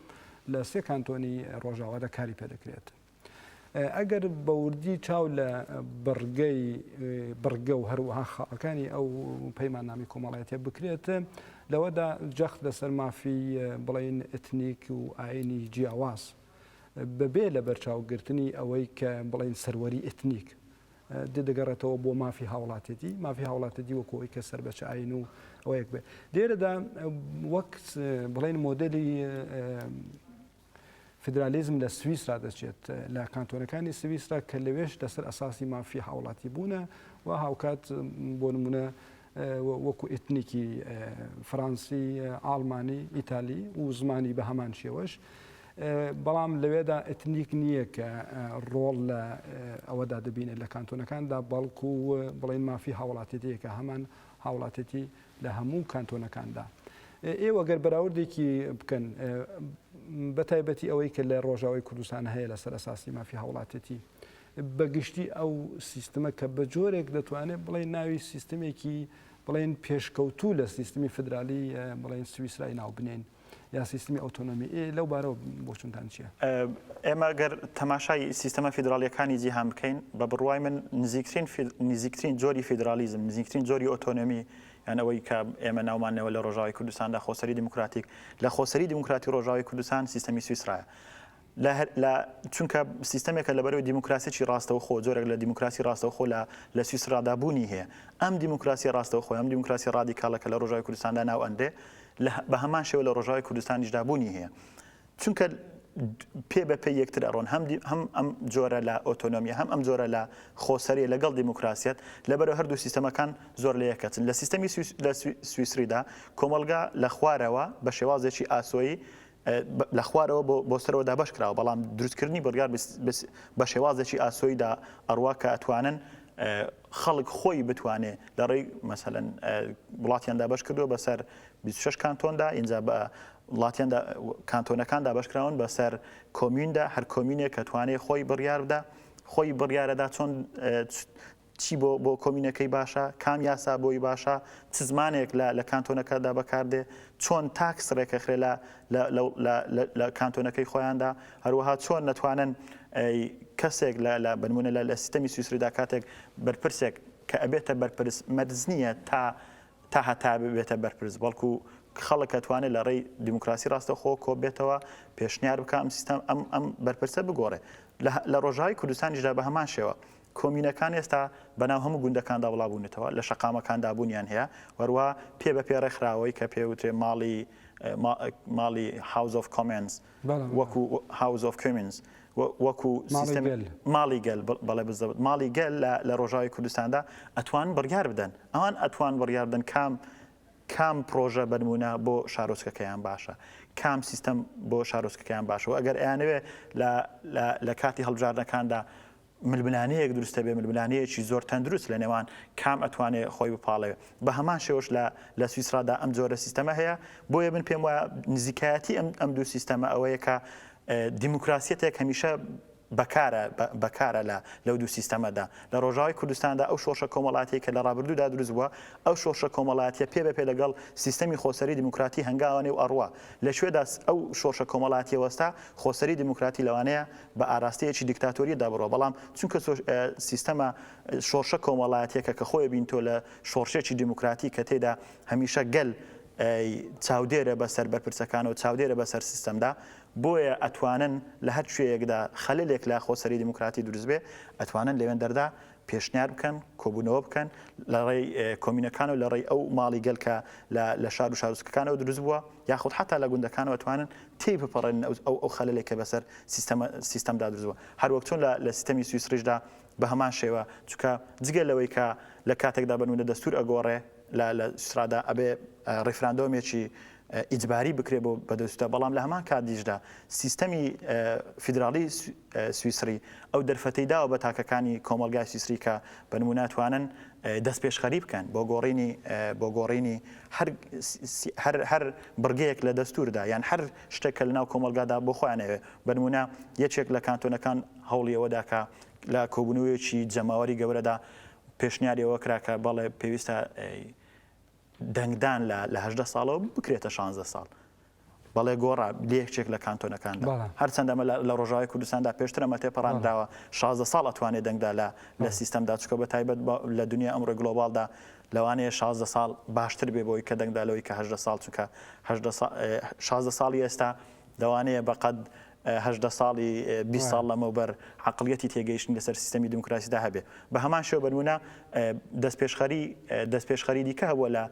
لە سێ کانتۆنی ڕۆژاوادا کاری پێدەکرێت. ئەگەر بەوردی چاو لە بڕگەی بڕگە و هەروەها خاڵەکانی ئەو پەیماننامی کۆمەڵایەتە بکرێت لەوەدا جەخت لەسەر مافی بڵێین ئێتنیک و ئایینی جیاواز بەبێ لەبەرچاوگرتنی ئەوەی کە بڵێین سەروەری ئێتنیک دێ دەگەڕێتەوە بۆ مافی هاوڵاتێتی مافی هاوڵاتێتی وەکو ئەوی کە سەر بە چ ئاین و ئەوەیەک بێ لێرەدا وەک بڵێن مۆدلی فیدرالیزم لە سویسرا دەچێت لە کانتۆنەکانی سویسرا کە لەوێش لەسەر ئەساسی مافی هاوڵاتی بوونە و هاوکات بۆ نمونە وەکو ئتنیکی فەرەنسی ئاڵمانی ئیتالی و زمانی بە هەمان شێوەش بەڵام لەوێدا ئتنیک نییە کە ڕۆڵ لە ئەوەدا دەبینێت لە کانتۆنەکاندا بەڵکو بڵین مافی هاوڵاتێتیەکە هەمان هاوڵاتێتی لە هەموو کانتۆنەکاندا ئێوە گەر بەراوردێکی بکەن بەتایبەتی ئەوەی کە لە ڕۆژاوی کوردستان هەیە لەسەر ئەساسی مافی هاوڵاتێتی بەگشتی ئەو سیستمە کە بە جۆرێک دەتوانێت بڵێ ناوی سیستمێکی بڵێن پێشکەوتوو لە سیستمی فدرالی بڵێن سویسرای ناو بنێن یا سیستمی ئۆتۆنۆمی لەو بارەوە بۆچونتان چیە؟ ئێمە گەر تەماشای سیستەمە فیدراالیەکانی جیهان بکەین بە بڕوای من نزیکترین نزیکترین جۆری فیدراالیزم نزیکترین جۆری ئۆتۆنۆمی یان ئەوەی کە ئێمە ناومانەوە لە ڕۆژاوی کوردستاندا خۆسەری دیموکراتیک لە خۆسەری دیموکراتی ڕۆژاوی کوردستان سیستەمی سویسرایە چونکە سیستەمێکە لە بەرەوەی دیموکراسیی ڕاستەوخۆ جۆرێک لە دیموکراسی ڕاستەوخۆ لە لە سویسرادا بوونی هەیە ئەم دیموکراسی ڕاستەو خۆی ئەم دیموکراسی ڕادیکاڵە کە لە ڕژای کوردستاندا ناو ئەنرێ لە بە هەمان شێوە لە ڕژای کوردستانیشدا بوونی هەیە چونکە پێ بە پێ یەکتر ئەڕۆن هەم هەم ئەم جۆرە لە ئۆتۆنۆمی هەم ئەم جۆرە لە خۆسەری لەگەڵ دیموکراسیت لەبەر هەردوو سیستەمەکان زۆر لە یەکەچن لە سیستەمی لە سویسریدا کۆمەلگا لە خوارەوە بە شێوازێکی ئاسۆیی لە خوارەوە بۆ سەرەوە دابەش کراوە، بەڵام دروستکردنی بڕیار بە شێوازێکی ئاسۆییدا ئەڕوا کە ئەتوانن خەڵک خۆی بتوانێ لە ڕێی مەسەلەن وڵاتیان دابەش کردووە بەسەر بیست و شەش کانتۆندا، ئینجا بە وڵاتیان کانتۆنەکان دابەش کراون بەسەر کۆمیوندا، هەر کۆمینێک ئەتوانێ خۆی بڕیار بدا، خۆی بڕیارەدا چۆن چی بۆ بۆ کۆمینەکەی باشە، کام یاسا بۆی باشە، چ زمانێک لە لە کانتۆنەکەدا بەکاردێ، چۆن تاکس ڕێکەخرێ لە لە لە لە لە لە کانتۆنەکەی خۆیاندا، هەروەها چۆن نەتوانن کەسێک لە لە بە نموونە لە لە سیستەمی سویسریدا کاتێک بەرپرسێک کە ئەبێتە بەرپرس مەرج نییە تا تا هەتا ببێتە بەرپرس بەڵکو خەڵک ئەتوانێ لە ڕێی دیموکراسی ڕاستەوخۆ کۆ بێتەوە پێشنیار بکا ئەم سیستەم ئەم ئەم بەرپرسە بگۆڕێ لە لە ڕۆژاوی کوردستانیشدا بە هەمان شێوە کۆمینەکان ئێستا بەناو هەموو گوندەکاندا بڵابوونەتەوە، لە شەقامەکاندا بوونیان هەیە، وەروا پێ بە پێ ڕێکخراوەی کە پێ وترێ ماڵی ماڵی House of Commons وەکو House of Commons وەکو سیستم ماڵی گەل بەڵێ بزەوت ماڵی گەل لە ڕۆژاوی کوردستاندا ئەتوان بڕیار بدەن ئەوان ئەتوان بڕیار بدەن کام کام پرۆژە بەنمونە بۆ شارۆچکەکەیان باشە کام سیستەم بۆ شارۆچکەکەیان باشەوە ئەگەر ئەیانەوێ لە کاتی هەڵبژاردنەکاندا ململانێیەک دروست دەبێت، ململانێیەکی زۆر تەندروست لە نێوان کام ئەتوانێت خۆی بپاڵێوێت. بە هەمان شێوەش لە لە سویسڕادا ئەم جۆرە سیستەمە هەیە، بۆیە من پێم وایە نزیکایەتی ئەم ئەم دوو سیستەمە ئەوەیە کە دیموکراسیەتێک هەمیشە بەکارە بەکارە لە لەو دوو سیستەمەدا لە ڕۆژاوی کوردستاندا ئەو شۆشە کۆمەڵاتی کە لە ڕابردوودا دروست بووە ئەو شۆشە کۆمەڵاتیە پێ بە پێ لەگەڵ سیستەمی خۆسەری دیموکراتی هەنگاوانێ و ئەڕوا لە کوێدا ئەو شۆشە کۆمەڵاتیە وەستا خۆسەری دیموکراتی لەوانەیە بە ئاراستەیەکی دیکتاتۆریەتدا بڕوا بەڵام چونکە تۆ سیستەمە شۆڕشە کۆمەڵایەتیەکە کە خۆی بین تۆ لە شۆڕشێکی دیموکراتی کە تێدا هەمیشە گەل چاودێرە بەسەر بەرپرسەکان و چاودێرە بەسەر سیستەمدا بۆیە ئەتوانن لە هەر شوێیەکدا خەلێک لە خۆسەری دیموکراتی دروست بێ ئەتوانن لەوێن دەردا پێشنیار بکەن، کۆبوونەوە بکەن لە ڕێی کۆمینەکان و لە ڕێی ئەو ماڵی گەل کە لە شار و شارۆچکەکانەوە دروست بووە، یاخود حەتا لە گوندەکانەوە توانن تێی بپەڕێنن ئەو ئەو خەلەلەی کە بەسەر سیستەمە سیستەمدا دروست بووە. هەر وەک چۆن لە سیستەمی سویسڕیشدا بە هەمان شێوە، چونکە جگە لەوەی کە لە کاتێکدا بە نموونە دەستوور ئەگۆڕێ لە لە سویسڕادا ئەبێ ڕیفراندۆمێکی ئیجباری بکرێت بۆ بەدەستووتە، بەڵام لە هەمان کاتیشدا سیستەمی فیدراڵی سویسری ئەو دەرفەتەی داوە بە تاکەکانی کۆمەڵگای سویسری کە بە نموونە توانن دەستپێشخەری بکەن بۆ گۆڕینی بۆ گۆڕینی هەر بڕگەیەک لە دەستووردا یان هەر شتێک کە لەناو کۆمەڵگادا بۆ خۆیان ئەوێ بە نموونە یەکێک لە کانتۆنەکان هەوڵی ئەوە دا کە لە کۆبوونەوەیەکی جەماوەری گەورەدا پێشنیاری ئەوە کرا کە بەڵێ پێویستە دەنگدان لە لە هەژدە ساڵەوە بکرێتە شانزە ساڵ. بەڵێ گۆڕا لەیەکێک لە کانتۆنەکاندا هەرچەند ئەمە لە ڕۆژاوی کوردستاندا پێشتر ئەمە تێپەڕاندراوە شازە ساڵ ئەتوانێت دەنگدا لە لە سیستەمدا چکە بە تایبەت لە دنیا ئەمڕۆی گلۆبالدا لەوانەیە شازە ساڵ باشتر بێ بۆی کە دەنگدا لەوەی کە هەدە ساڵ چونکە شازە ساڵی ئێستا لەوانەیە بەقەت هەژدە ساڵی بیست ساڵ لەمەوبەر عەقڵیەتی تێگەیشتن لەسەر سیستەمی دیموکراسیدا هەبێ. بە هەمان شێوە بە نموونە دەستپێشخەری دەستپێشخەری دیکە هەبووە لە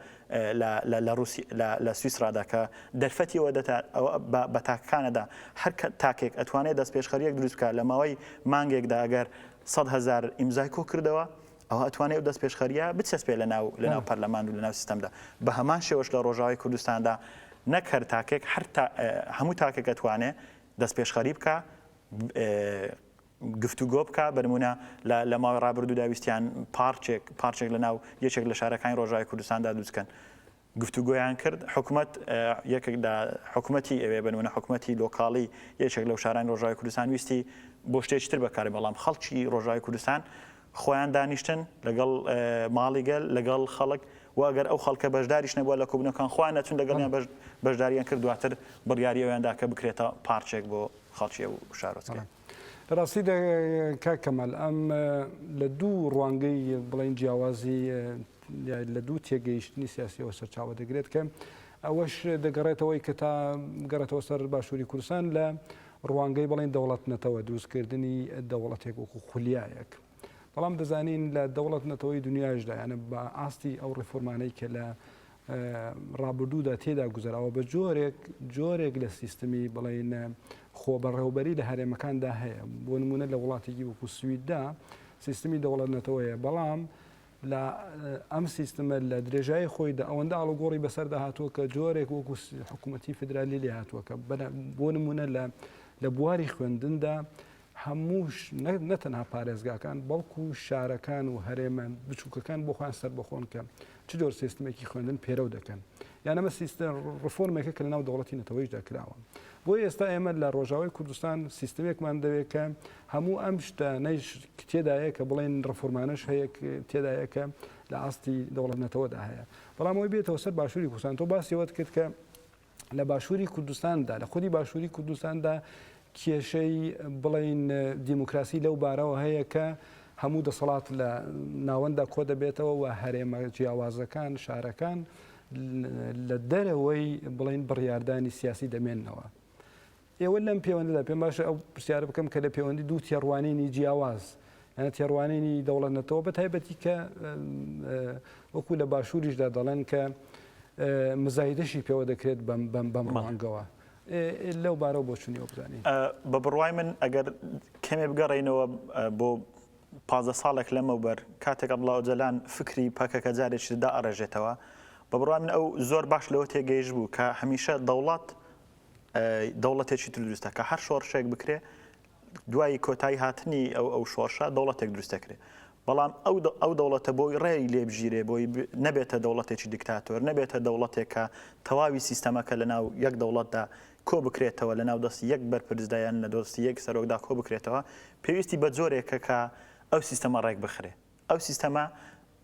لە لە ڕووسی لە لە سویسڕادا کە دەرفەتی ئەوە دەدا ئەوە بە بە تاکەکان ئەدا هەر کە تاکێک ئەتوانێ دەستپێشخەرییەک دروست بکا لە ماوەی مانگێکدا ئەگەر سەد هەزار ئیمزای کۆ کردەوە ئەوا ئەتوانێ ئەو دەستپێشخەرییە بچەسپێ لەناو لەناو پەرلەمان و لەناو سیستەمدا. بە هەمان شێوەش لە ڕۆژاوای کوردستاندا نەک هەر تاکێک، هەر تا هەموو تاکێک ئەتوانێ دەستپێشخەری بکا، گفتوگۆ بکا. بە نموونە لە لە ماوەی ڕابردوودا ویستیان پارچێک پارچێک لەناو یەکێک لە شارەکانی ڕۆژاوای کوردستاندا دروست کەن. گفتوگۆیان کرد حکومەت یەکێک لە حکومەتی ئەوێ بە نمونە حکومەتی لۆکاڵی یەکێک لەو شارانی ڕۆژاوی کوردستان ویستی بۆ شتێکی تر بەکاری بەڵام خەڵکی ڕۆژاوی کوردستان خۆیان دانیشتن لەگەڵ ماڵی گەل لەگەڵ خەڵک واگەر ئەو خەڵکە بەشداریش نەبووە لە کوبنەکان خۆیان نەچون لەگەڵیان بەش بەشداریان کرد دواتر بڕیاری ئەویاندا کە بکرێتە پارچێک بۆ خەڵکی و شارۆچکە. لە ڕاستیدا کاک کەمال ئەم لە دوو ڕوانگەی بڵین جیاوازی لە دوو تێگەیشتنی سیاسیەوە سەرچاوە دەگرێت کە ئەوەش دەگەڕێتەوەی کە تا گەڕێتەوە سەر باشووری کوردستان لە ڕوانگەی بڵێن دەوڵەت نەتەوە دروستکردنی دەوڵەتێک وەکو خولیایەک بەڵام دەزانین لە دەوڵەت نەتەوەی دنیاشدا یانە بە ئاستی ئەو ڕفۆرمانەی کە لە ڕابردوودا تێدا گوزەرەوە بە جۆرێک جۆرێک لە سیستمی بڵین خۆ بەڕێوبەری لە هەرێمەکاندا هەیە بۆ نمونە لە وڵاتێکی وەکو سویددا سیستمی دەوڵەت نەتەوەیە بەڵام لە ئەم سیستمە لە درێژایی خۆیدا ئەوەندە ئاڵوگۆڕی بەسەردا هاتووە کە جۆرێک وەکو حکوومەتتی فدرالی لێ هاتووە کە بۆ نمونە لە لە بواری خوێندندا هەمووش نەتەنها پارێزگاکان بەڵکو شارەکان و هەرێمە بچووکەکان بۆ خۆیان سەر بەخۆن کە چ جۆر سیستمێکی خوێندن پێرەو دەکەن یانەمە سیستم ڕفۆرمێکە کە لەناو دەوڵەتی نەتەوەیشدا کراوە بۆ ئێستا ئێمە لە ڕۆژاوای کوردستان سیستمێکمان دەوێت کە هەموو ئەم شتانەیش تێدایە کە بڵێن ڕفۆرمانەش هەیە تێدایە کە لە ئاستی دەوڵەت نەتەوەدا هەیە بەڵام ئەوی بێتەوە سەر باشووری کوردستان تۆ باسیەوەت کرد کە لە باشووری کوردستاندا لە خودی باشووری کوردستاندا کێشەی بڵین دیموکراسی لەو بارەوە هەیە کە هەموو دەسەڵات لە ناوەنددا کۆ دەبێتەوە و هەرێمە جیاوازەکان شارەکان لە دەرەوەی بڵین بڕیاردانی سیاسی دەمێنەوە. ئێوە لەم پێوەندەدا پێم باشە ئەو پرسیارە بکەم کە لە پێوەندی دوو تێڕوانینی جیاواز یانە تێڕوانینی دەوڵەت نەتەوە بە تایبەتی کە وەکو لە باشووریشدا دەڵێن کە مزایدەشی پێوە دەکرێت بەم ڕوانگەوە. لەو بارەوە بۆ چونی بزانین بە بڕوای من ئەگەر کەمێ بگەڕینەوە بۆ پازە ساڵێک لەمەوبەر کاتێک ئەبڵاو جەلان فکری پەکەکە جارێکیدا ئەڕێژێتەوە بە بڕوای من ئەو زۆر باش لەوە تێگەیش بوو کە هەمیشە دەوڵات دەوڵەتێکی تر دروست دەکا هەر شۆڕشێک بکرێ دوای کۆتایی هاتنی ئەو ئەو شۆڕشە دەوڵەتێک دروست دەکرێ بەڵام ئەو ئەو دەوڵەتە بۆی ڕێی لێبژیرێ بۆی نەبێتە دەوڵەتێکی دیکتاتۆر نەبێتە دەوڵەتێکە تەواوی سیستەمەکە لە ناو یەک دەوڵەتدا کۆ بکرێتەوە لە ناو دەستی یەک بەرپرسدایان نە دۆستی یەک سەرۆکدا کۆ بکرێتەوە پێویستی بە جۆرێکە کە ئەو سیستەمە ڕێک بخرێ ئەو سیستەمە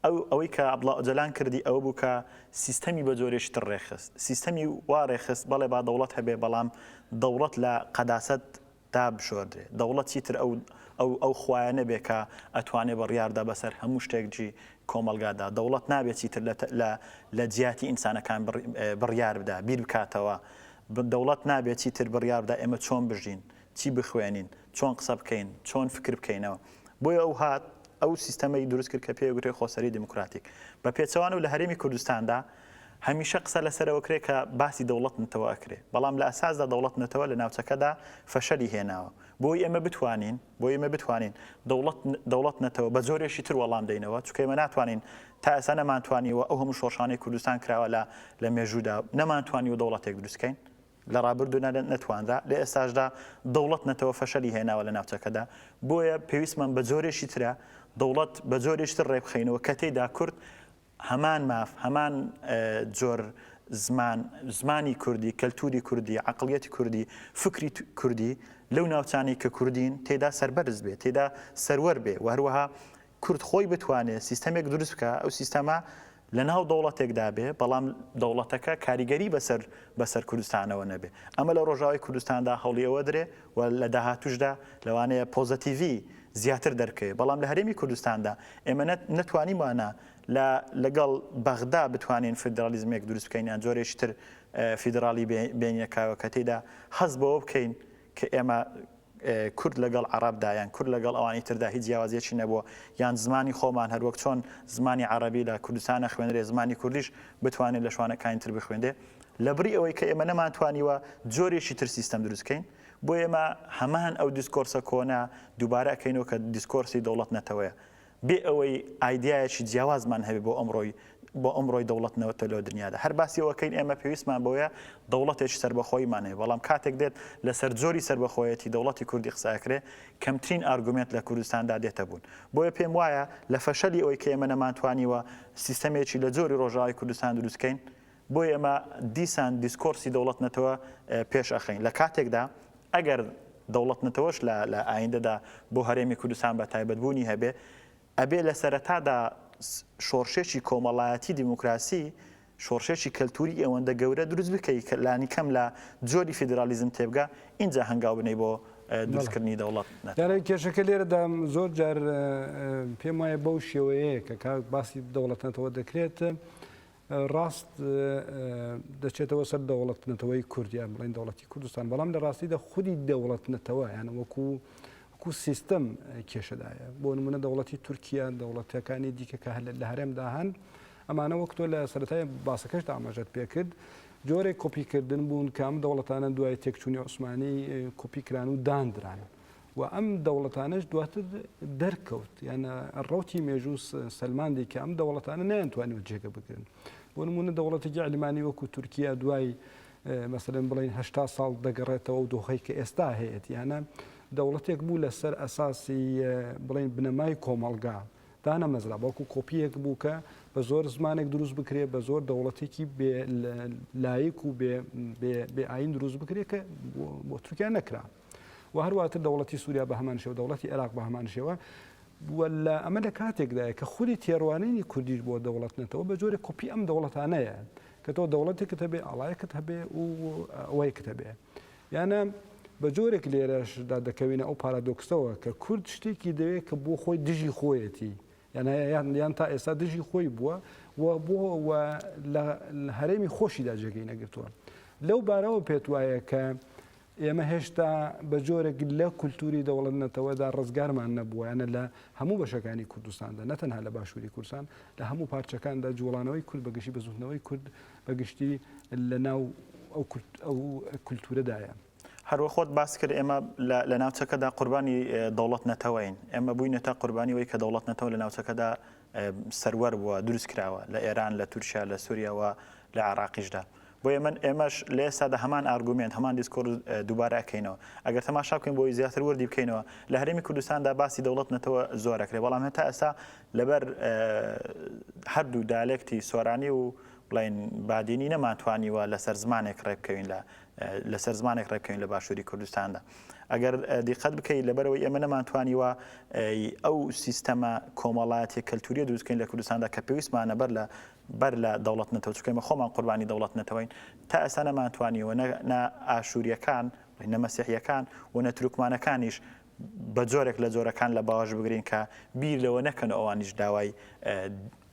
ئەو ئەوەی کە عەبدوڵا ئۆجەلان کردی ئەوە بوو کە سیستەمی بە جۆرێکی تر ڕێکخست. سیستەمی وا ڕێکخست بەڵێ با دەوڵەت هەبێ بەڵام دەوڵەت لە قەداسەت دا بشۆردرێ. دەوڵەت چیتر ئەو ئەو ئەو خوایە نەبێ کە ئەتوانێ بڕیار دا بەسەر هەموو شتێک جی کۆمەڵگا دا. دەوڵەت نابێ چیتر لە لە لە جیاتی ئینسانەکان بڕ بڕیار بدا، بیر بکاتەوە. دەوڵەت نابێ چیتر بڕیار بدا ئێمە چۆن بژین؟ چی بخوێنین؟ چۆن قسە بکەین، چۆن فکر بکەینەوە. بۆیە ئەو هات ئەو سیستەمەی دروست کرد کە پێی ئەگوترێ خۆسەری دیموکراتیک. بە پێچەوانەوە لە هەرێمی کوردستاندا هەمیشە قسە لەسەر ئەوە کرێ کە باسی دەوڵەت نەتەوە ئەکرێ، بەڵام لە ئەساسدا دەوڵەت نەتەوە لە ناوچەکەدا فەشەلی هێناوە. بۆی ئێمە بتوانین، بۆی ئێمە بتوانین دەوڵەت، دەوڵەت نەتەوە بە جۆرێکی تر وەڵام دەینەوە، چونکە ئێمە ناتوانین، تا ئێستا نەمانتوانیوە ئەو هەموو شۆڕشانەی کوردستان کراوە لە لە مێژوودا، نەمانتوانیوە دەوڵەتێک دروست کەین. لە ڕابردوودا نەتوانرا، لە ئێستاشدا دەوڵەت نەتەوە فەشەلی هێناوە لە ناوچەکەدا، بۆیە پێویستمان بە جۆرێکی ترە، دەوڵەت بە جۆرێکی تر ڕێکبخەینەوە کە تێیدا کورد هەمان ماف، هەمان جۆر زمان، زمانی کوردی، کەلتووری کوردی، عەقڵیەتی کوردی، فکری کوردی لەو ناوچانەی کە کوردین تێیدا سەربەرز بێ، تێیدا سەروەر بێ و هەروەها کورد خۆی بتوانێت سیستەمێک دروست بکا ئەو سیستەمە لەناو دەوڵەتێکدا بێ بەڵام دەوڵەتەکە کاریگەری بەسەر بەسەر کوردستانەوە نەبێ ئەمە لە ڕۆژاوای کوردستاندا هەوڵی ئەوە درێ و لە داهاتوشدا لەوانەیە پۆزەتیڤی زیاتر دەرکەوێ بەڵام لە هەرێمی کوردستاندا ئێمە نەتوانیمانە لە لەگەڵ بەغدا بتوانین فیدرالیزمێک دروست بکەین یان جۆرێکی تر فیدراڵی بێنینە کایەوە کە تێدا هەست بەوە بکەین کە ئێمە کورد لەگەڵ عەڕەبدا یان کورد لەگەڵ ئەوانی تردا هیچ جیاوازیەکی نەبووە یان زمانی خۆمان هەر وەک چۆن زمانی عەڕەبی لە کوردستان ئەخوێنرێ زمانی کوردیش بتوانێ لە شوانەکانی تر بخوێنرێ لەبری ئەوەی کە ئێمە نەمانتوانیوە جۆرێکی تر سیستەم دروست کەین بۆ ئێمە هەمان ئەو دیسکۆرسە کۆنە دووبارە ئەکەینەوە کە دیسکۆرسی دەوڵەت نەتەوەیە بێ ئەوەی ئایدیایەکی جیاوازمان هەبێ بۆ ئەمڕۆی بۆ ئەمڕۆی دەوڵەت نەوتە لۆ دنیادا هەر باسی ئەوە کەین ئێمە پێویستمان بەوەیە دەوڵەتێکی سەربەخۆیمان هەیە بەڵام کاتێک دێت لەسەر جۆری سەربەخۆیەتی دەوڵەتی کوردی قسە ئەکرێ کەمترین ئارگومێنت لە کوردستاندا دێتە بوون بۆیە پێم وایە لە فەشەلی ئەوەی کە ئێمە نەمانتوانیوە سیستەمێکی لە جۆری ڕۆژاوای کوردستان دروست کەین بۆیە ئێمە دیسان دیسکۆرسی دەوڵەت نەتەوە پێش ئەخەین لە کاتێکدا ئەگەر دەوڵەت نەتەوەش لە لە ئایندەدا بۆ هەرێمی کوردستان بە تایبەت بوونی هەبێ ئەبێ لە سەرەتادا شۆڕشێکی کۆمەڵایەتی دیموکراسی شۆڕشێکی کەلتوری ئەوەندە گەورە دروست بکەی کە لانی کەم لە جۆری فیدرالیزم تێبگا اینجا هەنگاو بنەی بۆ دروستکردنی دەوڵەت دارای کێشەکە لێرەدا زۆر جار پێم وایە بەو شێوەیە کە کاک باسی دەوڵەتەتەوە دەکرێت. ڕاست دەچێتەوە سەر دەوڵەت نەتەوەی کورد یان بڵێن دەوڵەتی کوردستان بەڵام لە ڕاستیدا خودی دەوڵەت نەتەوە یان وەکو وەکو سیستم کێشەدایە بۆ نمونە دەوڵەتی تورکیا دەوڵەتەکانی دیکە کە هەل لە هەرێمدا هەن ئەمانە وەک تۆ لە سەرای باسەکەش ئاماژەت پێکرد جۆرێک کۆپیکردن بوون کام دەوڵەتانە دوای تێکچوونی عوسمانی کۆپیکران و داندران و ئەم دەوڵەتانەش دواتر دەرکەوت یان ڕەوتی مێژوو سەلماندی کە ئەم دەوڵەتانە نەیانتوانیوە جێگە بگرن بۆ نمونە دەوڵەتێکی ئەلمانی وەکو تورکیا دوای مەسەرەن بڵین هشتا ساڵ دەگەڕێتەوە و دۆخی کە ئێستا هەیەت یانە دەوڵەتێک بوو لەسەر ئەساسی بڵین بنەمای کۆمەلگا دانەمەزرا بەڵکو کۆپیەک بوو کە بە زۆر زمانێک دروست بکرێ بە زۆر دەوڵەتێکی لایک و بێ ئاین دروست بکرێت کە بۆ تورکیا نەکرا و هەر واتر دەوڵەتی سوریا بە هەمان شێوە دەوڵەتی عێراق بە هەمان شێوە و لە ئەمە لە کاتێکدایە کە خودی تێڕوانینی کوردیش بۆ دەوڵەت نەتەوە بە جۆرە کۆپی ئەم دەوڵەتانەیە کە تۆ دەوڵەتێکت هەبێ ئاڵایەکت هەبێ و ئەوەیەکت هەبێ یانە بە جۆرێک لێرەشدا دەکەوینە ئەو پارادۆکسەوە کە کورد شتێکی دەوێت کە بۆ خۆی دژی خۆیەتی یان یان تا ئێستا دژی خۆی بووە و بۆ هەرێمی خۆشیدا جێگەی نەگرتووە لەو بارەوە پێت وایە کە ئێمە هێشتا بە جۆرێک لە کولتووری دەوڵەت-نەتەوەدا ڕزگارمان نەبووە، یانە لە هەموو بەشەکانی کوردستاندا، نە تەنها لە باشووری کوردستان، لە هەموو پارچەکاندا جووڵانەوەی کورد بە گشتی، بزووتنەوەی کورد بە گشتی لەناو ئەو کولتوورەدایە. هەروەک خۆت باست کرد، ئێمە لە ناوچەکەدا قوربانی دەوڵەت-نەتەوەین. ئێمە بووینەتە قوربانی ئەوەی کە دەوڵەت-نەتەوە لە ناوچەکەدا سەروەر بووە دروست کراوە لە ئێران لە تورکیا لە سوریا و لە عێراقیشدا بۆیە من ئێمەش لە ئێستادا هەمان ئارگومێنت هەمان دیسکۆرس دووبارە ئەکەینەوە ئەگەر تەماشا بکەین بۆی زیاتر وەردی بکەینەوە لە هەرێمی کوردستاندا باسی دەوڵەت نەتەوە زۆرەکرێ بەڵام هەتا ئێستا لەبەر هەردوو دالێکتی سۆرانی و بڵین بادینی نەمانتوانیوە لەسەر زمانێک ڕێبکەوین لە لەسەر زمانێک ڕێبکەوین لە باشووری کوردستاندا ئەگەر دیقەت بکەیت لەبەرەوەی ئێمە نەمانتوانیوە ئەو سیستەمە کۆمەڵایەتی کەلتوریە دروستکەین لە کوردستاندا کە پێویستمانە بەر لە بەر لە دەوڵەت نەتەوە چکەمە خۆمان قوربانی دەوڵەت نەتەوەین تا ئێستا نەمانتوانیەوە نە ئاشووریەکان نەمەسیحیەکان و نە تروکمانەکانیش بە جۆرێک لە جۆرەکان لە باوەش بگرین کە بیر لەوە نەکەن ئەوانیش داوای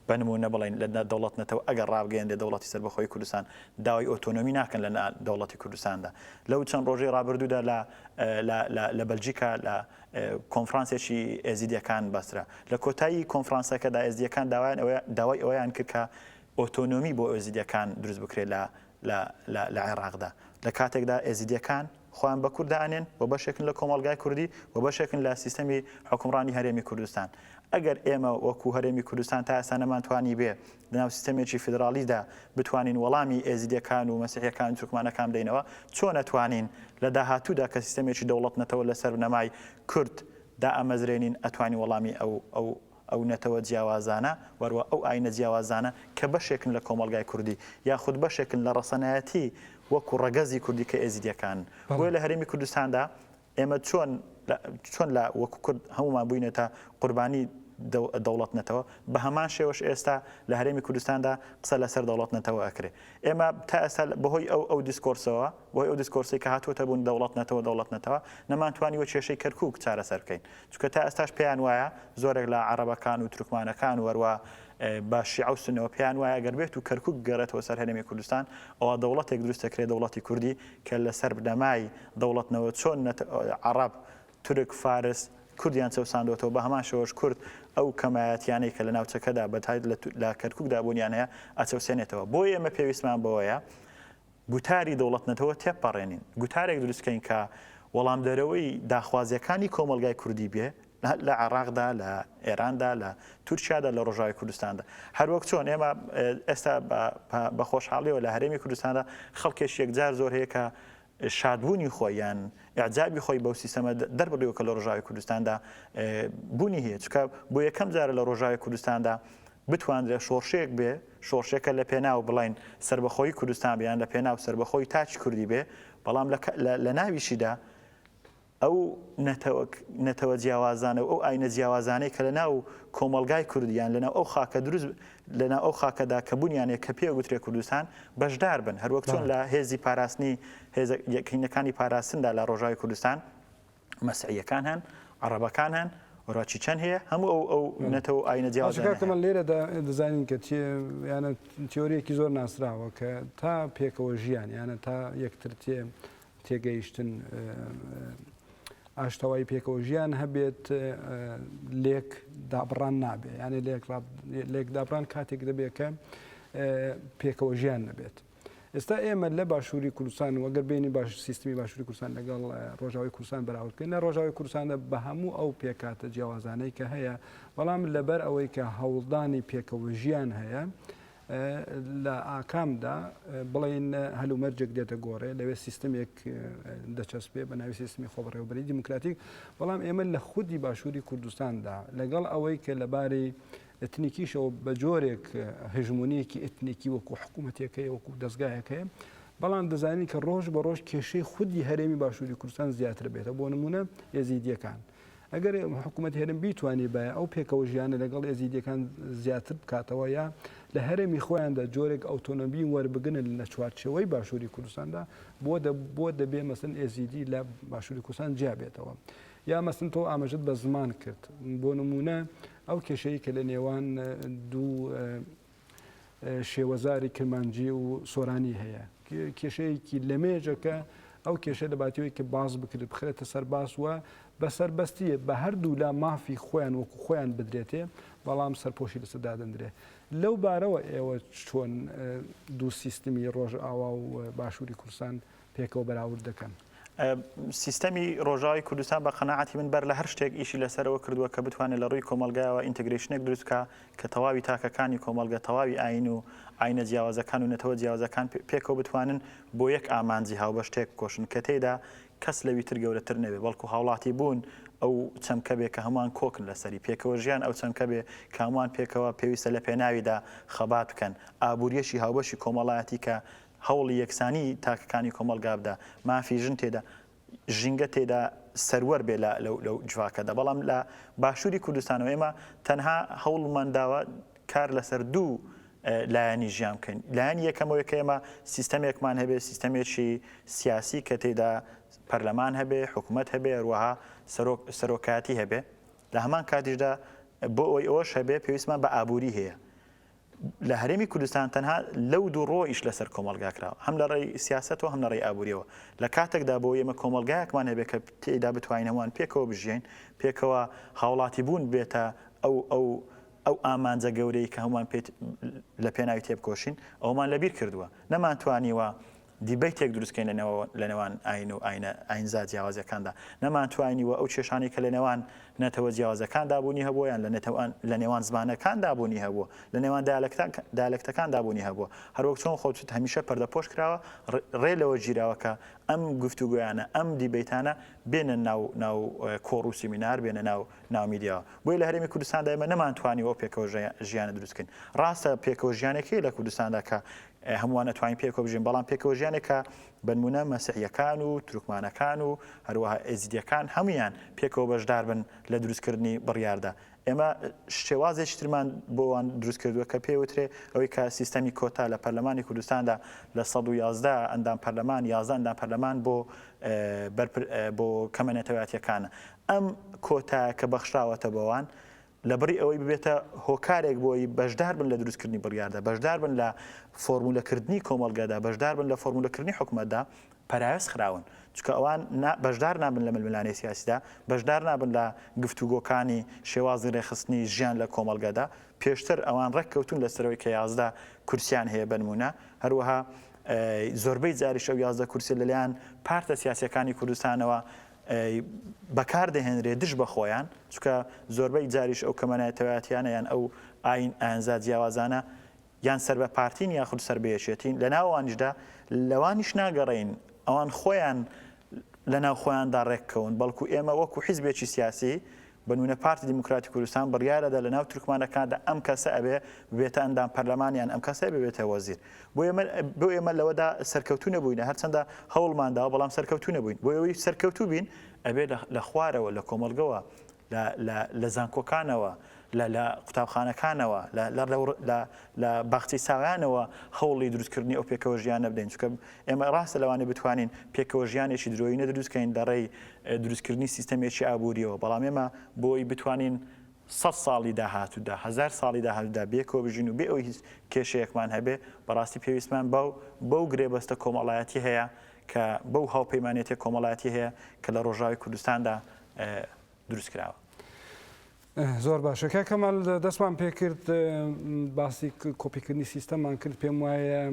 بە نموونە بڵێین لە دەوڵەت نەتەوە ئەگەر ڕابگەیەنرێت دەوڵەتی سەربەخۆی کوردستان داوای ئۆتۆنۆمی ناکەن لە دەوڵەتی کوردستاندا لەو چەند ڕۆژەی ڕابردوودا لە لە بەلجیکا لە کۆنفرانسێکی ئێزیدیەکان بەسرا لە کۆتایی کۆنفرانسەکەدا ئێزدیەکان داوایان ئەوە داوای ئەویان کرد کە ئۆتۆنۆمی بۆ ئۆزیدیەکان دروست بکرێت لە لە عێراقدا لە کاتێکدا ئێزیدیەکان خۆیان بە کورد دائەنێن و بەشێکن لە کۆمەڵگای کوردی و بەشێکن لە سیستەمی حوکمڕانی هەرێمی کوردستان. ئەگەر ئێمە وەکوو هەرێمی کوردستان تا ئێستا نەمانتوانیبێ لەناو سیستەمێکی فیدراڵیدا بتوانین وەڵامی ئێزیدییەکان و مەسیحییەکان و تورکمانەکان بدەینەوە، چۆن ئەتوانین لە داهاتوودا کە سیستەمێکی دەوڵەت-نەتەوە لەسەر بنەمای کورد دائەمەزرێنین ئەتوانین وەڵامی ئەو ئەو نەتەوە جیاوازانە وەروا ئەو ئاینە جیاوازانە کە بەشێکن لە کۆمەڵگای کوردی یاخود بەشێکن لە ڕەسەنایەتی وەکو ڕەگەزی کوردی کە ئێزیدیەکان بۆیە لە هەرێمی کوردستاندا ئێمە چۆن چۆن لە وەکو کورد هەموومان بووینەتە قوربانی دەوڵەت نەتەوە بە هەمان شێوەش ئێستا لە هەرێمی کوردستاندا قسە لەسەر دەوڵەت نەتەوە ئەکرێ ئێمە تا ئێستا بەهۆی ئەو ئەو دیسکۆرسەوە بۆی ئەو دیسکۆرسی کە هاتووەتە بوون دەوڵەت نەتەوە دەوڵەت نەتەوە نەمانتوانی وە کێشەی کەرکک چارەسەر بکەین چونکە تا ئێستاش پێیان وایە زۆرێک لە عەڕەبەکان و تورکمانەکان و هەروا بە شیعە و سونەوە پێیان وایە گەر بێتو کەرکوک بگەڕێتەوە سەر هەرێمی کوردستان ئەوا دەوڵەتێک دروست دەکرێت دەوڵەتی کوردی کە لەسەر بنەمای دەوڵەتنەوە چۆن نەت عەڕەب تورک فارس کوردیان چەوساندۆتەوە بە هەمان شێوەش کورد ئەو کەمایەتیانەی کە لە ناوچەکەدا بەتایت لە کەرکوکدا بوونیان هەیە ئەچەوسێنێتەوە بۆیە ئێمە پێویستمان بەوەیە گوتاری دەوڵەت-نەتەوە تێپەڕێنین، گوتارێک دروست کەین کە وەڵامدەرەوەی داخوازییەکانی کۆمەڵگای کوردی بێ لە عێڕاقدا، لە ئێراندا، لە تورکیادا، لە ڕۆژاوای کوردستاندا. هەر وەک چۆن ئێمە ئێستا بە خۆشحاڵییەوە لە هەرێمی کوردستاندا خەڵکێکی یەکجار زۆر هەیە کە شادبوونی خۆی یان ئیعجابی خۆی بەو سیستەمە دەربڕیوە کە لە ڕۆژاوی کوردستاندا بوونی هەیە چکە بۆ یەکەم جارە لە ڕۆژاوی کوردستاندا بتواندرێت شۆڕشێک بێ شۆڕشێکە لە پێناو بڵێین سەربەخۆیی کوردستان بێ یان لە پێناو سەربەخۆیی تاکی کوردی بێ، بەڵام لە لە ناویشیدا ئەو نەتەوە نەتەوە جیاوازانە و ئەو ئاینە جیاوازانەی کە لە ناو کۆمەڵگای کوردی یان لەناو ئەو خاکە دروست لە ناو ئەو خاکەدا کە بوونیانێ کە پێ گوترێ کوردستان بەشدار بن هەروەک چۆن لە هێزی پاراستنی هێزە یەکینەکانی پاراستندا لە ڕۆژاوی کوردستان مەسیحیەکان هەن عەڕەبەکان هەن وەرا چی چەند هەیە هەموو ئەو ئەو نەتەوە ئاینە جیاوازەکان لێرە دەزانین کە یانە تیۆریەکی زۆر ناسراوە کە تا پێکەوە ژیان یانە تا یەکتر تێ تێگەیشتن ئاشتەوای پێکەوە ژیان هەبێت لێک دابڕان نابێت یانە لێک لێک دابران کاتێک دەبێت کە پێکەوە ژیان نەبێت. ئێستا ئێمە لە باشووری کوردستان و گەر بینی باش سیستمی باشووری کوردستان لەگەڵ ڕۆژاوی کوردستان بەراورد بکەین لە ڕۆژاوی کوردستاندا بە هەموو ئەو پێکاتە جیاوازانەی کە هەیە بەڵام لەبەر ئەوەی کە هەوڵدانی پێکەوە ژیان هەیە لە ئاکامدا بڵین هەلومەرجێک دێتە گۆڕێ لەوێ سیستمێک دەچەسپێ بە ناوی سیستمی خۆبڕێوبەری دیموکراتیک بەڵام ئێمە لە خودی باشووری کوردستاندا لەگەڵ ئەوەی کە لەبارەی ئێتنیکیشەوە بە جۆرێک هژمونیەکی ئێتنیکی وەکو حکوومەتەکەی وەکو دەستگایەکەیە بەڵام دەزانین کە ڕۆژ بە ڕۆژ کێشەی خودی هەرێمی باشووری کوردستان زیاتر بێتە بۆ نمونە ێزیدیەکان ئەگەر حکوومەت هەرم بیتوانانی بە ئەو پێکەوە ژیانە لەگەڵ ێزیدیەکان زیاتر بکاتەوە یا لە هەرێمی خۆیاندا جۆرێک ئەوتۆنۆبی وەربگنن لە چوارچەوەی باشووری کوردستاندا بۆ بۆ دەبێ مەسن ێزیدی لە باشووری کوردستان جیابێتەوە. یا مەسن تۆ ئاماژت بە زمان کرد بۆ نمونە ئەو کێشەی کە لە نێوان دوو شێوەزاری کرمانجی و سۆرانی هەیە کێشەیەکی لە مێژەکە ئەو کێشە دەباتەوەی کە باز بکرێت بخرێتە سەر باس وە بە سەربەستیە بە هەردوو لا مافی خۆیان وەکو خۆیان بدرێتێ بەڵام سەرپۆشی لەسە دادەندرێ لەو بارەوە ئێوە چۆن دوو سیستمی ڕۆژ ئاوا و باشووری کوردستان پێکەوە بەراورد دەکەن. سیستەمی ڕۆژاوای کوردستان بە قەناعەتی من بەر لە هەر شتێک ئیشی لەسەرەوە کردووە کە بتوانێت لە ڕووی کۆمەڵگایەوە ئینتگرەیشنێک دروست بکا کە تەواوی تاکەکانی کۆمەڵگە، تەواوی ئایین و ئایینە جیاوازەکان و نەتەوە جیاوازەکان پێکەوە بتوانن بۆ یەک ئامانجی هاوبەش تێک بکۆشن کە تێیدا کەس لەوی تر گەورەتر نەبێ بەڵکو هاوڵاتیبوون ئەو چەمکە بێ کە هەمووان کۆکن لەسەری، پێکەوەژیان ئەو چەمکە بێ کە هەمووان پێکەوە پێویستە لەپێناویدا خەبات بکەن، ئابووریی هاوبەشی کۆمەڵایەتی کە هەوڵی یەکسانی تاکەکانی کۆمەڵگا بدا، مافی ژن تێدا، ژینگە تێدا سەروەر بێ لە لەو جڤاکەدا، بەڵام لە باشووری کوردستانەوە ئێمە تەنها هەوڵمان داوە کار لەسەر دوو لایەنی ژیان بکەین، لایەنی یەکەم ئەوەیە کە ئێمە سیستەمێکمان هەبێ، سیستەمێکی سیاسی کە تێدا پەرلەمان هەبێ، حکومەت هەبێ، هەروەها سەرۆک سەرۆکایەتی هەبێ، لە هەمان کاتیشدا بۆ ئەوەی ئەوەش هەبێ پێویستمان بە ئابووری هەیە، لە هەرێمی کوردستان تەنها لەو دوو ڕووە ئیش لەسەر کۆمەڵگا کراوە، هەم لە ڕێی سیاسەتەوە هەم لە ڕێی ئابووریەوە، لە کاتێکدا بۆ ئێمە کۆمەڵگایەکمان هەبێت کە تێیدا بتوانین هەمووان پێکەوە بژیین، پێکەوە هاوڵاتیبوون بێتە ئەو ئەو ئەو ئامانجە گەورەی کە هەمووان پێی لە پێناوی تێبکۆشین، ئەوەمان لەبیر کردووە، نەمانتوانیوە دیبەیتێک دروست کەین لە نێوان ئاین و ئاینزا جیاوازەکاندا، نەمانتوانیوە ئەو کێشانەی کە لە نێوان نەتەوە جیاوازەکاندا بوونی هەبووە یان لە نێوان زمانەکاندا بوونی هەبووە، لە نێوان دایالەکتەکاندا بوونی هەبووە، هەروەک چۆن خۆتت هەمیشە پەردەپۆش کراوە، ڕێ لەوە گیراوە کە ئەم گفتوگۆیانە، ئەم دیبەیتانە بێنە ناو کۆڕ و سیمینار، بێنە ناو میدیاوە. بۆیە لە هەرێمی کوردستاندا ئێمە نەمانتوانیوە ئەو پێکەوە ژیانە دروست کەین. ڕاستە پێکەوە ژیانێک هەیە لە کوردستاندا کە هەمووان ئەتوانین پێکەوە بژین، بەڵام پێکەوە ژیانێک کە بەنموونە مەسیحییەکان و تورکمانەکان و هەروەها ئێزیدییەکان هەموویان پێکەوە بەشدار بن لە دروستکردنی بڕیاردا. ئێمە شێوازێکی ترمان بۆ ئەوان دروست کردووە کە پێی وترێ ئەوەی کە سیستەمی کۆتا لە پەرلەمانی کوردستاندا لە سەد و یازدە ئەندام پەرلەمان یازدە ئەندام پەرلەمان بۆ بۆ کەمە نەتەوەیاتییەکانە. ئەم کۆتایە کە بەخشراوەتە بەوان لەبری ئەوەی ببێتە هۆکارێک بۆی بەشدار بن لە دروستکردنی بڕیاردا، بەشدار بن لە فۆرمولەکردنی کۆمەڵگەدا، بەشدار بن لە فۆرمولەکردنی حکومەتدا، پەراوێز خراون، چونکە ئەوان بەشدار نابن لە ململانێی سیاسیدا، بەشدار نابن لە گفتوگۆکانی شێوازی رێکخستنی ژیان لە کۆمەڵگەدا، پێشتر ئەوان رێککەوتوون لەسەرەوەی کە یازدە کورسییان هەیە بەنموونە، هەروەها زۆربەی جاریش ئەو یازدە کورسیە لەلایەن پارتە سیاسییەکانی کوردستانەوە، ی بەکار دەهێنرێت دژ بە خۆیان، چونکە زۆربەی جاریش ئەو کەمەنەتەوایەتیانە یان ئەو ئایین ئایینزا جیاوازانە یان سەر بە پارتین یاخود سەر بە یەکێتین، لە ناو ئەوانیشدا لەوانیش ناگەڕێین ئەوان خۆیان لە ناو خۆیاندا ڕێک کەون، بەڵکو ئێمە وەکو حیزبێکی سیاسی بەنونە پارتی دیموکراتی کوردستان بڕیارەدا لەناو تورکمانەکاندا ئەم کەسە ئەبێ ببێتە ئەندام پەرلەمان یان ئەم کەسە ئەبێ ببێتە وەزیر بۆ ئێمە بۆ ئێمە لەوەدا سەرکەوتوو نەبووینە هەرچەندە هەوڵمان داوە بەڵام سەرکەوتوو نەبووین بۆ ئەوەی سەرکەوتوو بین ئەبێ لە خوارەوە لە کۆمەڵگەوە لە زانکۆکانەوە لە قوتابخانەکانەوە لە باخچەی ساویانەوە هەوڵی دروستکردنی ئەو پێکەوە ژیانە بدەین چکە ئێمە ڕاستە لەوانی بتوانین پێکەوە ژیانێکی درۆینە دروستکەین لە ڕێی دروستکردنی سیستەمێکی ئابوورییەوە، بەڵام ئێمە بۆ ئەوەی بتوانین سەد ساڵی داهاتوودا، هەزار ساڵی داهاتوودا بەیەکەوە بژین و بێ ئەوەی هیچ کێشەیەکمان هەبێ، بەڕاستی پێویستمان بەو بەو گرێبەستە کۆمەڵایەتی هەیە کە بەو هاوپەیمانێتیە کۆمەڵایەتی هەیە کە لە ڕۆژاوای کوردستاندا دروست کراوە. زۆر باشە کاک کەمال دەستمان پێکرد باسی کۆپیکردنی سیستەمان کرد پێم وایە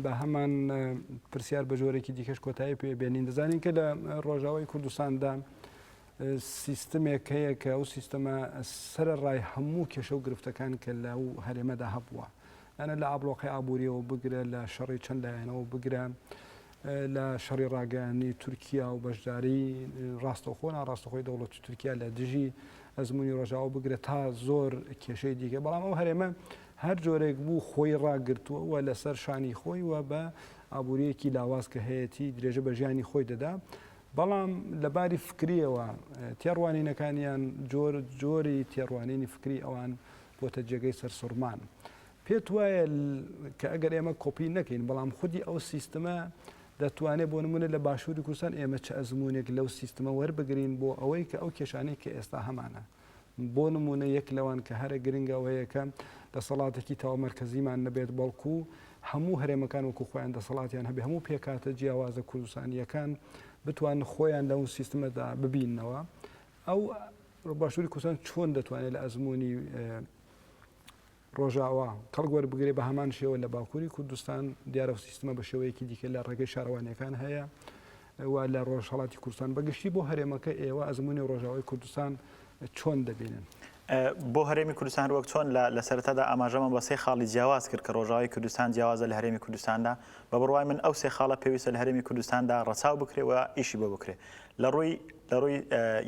بە هەمان پرسیار بە جۆرێکی دیکەش کۆتایی پێ بێنین دەزانین کە لە ڕۆژاوای کوردستاندا سیستمێک هەیە کە ئەو سیستەمە سرە ڕای هەموو کێشە و گرفتەکان کە لە و هەرێمەدا هەبووە ئەە لە ئابلۆقی ئابوووریەوە بگرە لە شەڕی چەند لایەنەوە بگرە لە شەڕی ڕاگەیاندنی تورکیا و بەشداری ڕاستەوخۆ ناڕاستەخۆی دەوڵەتی تورکیا لە دژی ئەزمموی ڕژاو بگرە تا زۆر کێشەی دیکە بەڵام ئەو هەرێمە هەر جۆرێک بوو خۆی ڕاگرتووە و لەسەر شانی خۆی و بە ئابوووریەکی لاواز کە هەیەی درێژە بە ژیانی خۆی دەدا بەڵام لە باری فکریەوە تێڕوانینەکانیان جۆر جۆری تێڕوانینی فکری ئەوان بۆتە جێگەی سەرسوڕمان. پێت وایە کە ئەگەر ئێمە کۆپی نەکەین بەڵام خودی ئەو سیستمە دەتوانێت بۆ نمونە لە باشووری کوردستان ئێمە چ ئەزمونێک لەو سیستمە وەربگرین بۆ ئەوەی کە ئەو کێشانەی کە ئێستا هەمانە بۆ نمونە یەک لەوان کە هەرە گرنگەوەیەکە دەسەڵاتێکی تاو مەرکزیمان نەبێت بەڵکو هەموو هەرێمەکان وەکو خۆیان دەسەڵاتیان هەبێ هەموو پێکاتە جیاوازە کوردستانیەکان بتوان خۆیان لەو سیستمەدا ببینەوە ئەو باشووری کوردستان چۆن دەتوانێت لە ئەزمموی ڕۆژاوا، کەڵک وەربگرێت، بە هەمان شێوە لە باکووری کوردستان، دیارە ئەو سیستمە بە شێوەیەکی دیکە لە ڕێگەی شارەوانییەکان هەیە و لە ڕۆژهەڵاتی کوردستان بە گشتی بۆ هەرێمەکە ئێوە ئەزموونی ڕۆژاوای کوردستان چۆن دەبینن؟ بۆ هەرێمی کوردستان وەک چۆن لە سەرەتادا ئاماژەمان بە سێ خاڵی جیاواز کرد کە ڕۆژاوای کوردستان جیاوازە لە هەرێمی کوردستاندا، بە بڕوای من ئەو سێ خاڵە پێویستە لە هەرێمی کوردستاندا ڕەچاو بکرێ و ئیشی بۆ بکرێ لە ڕووی لە ڕووی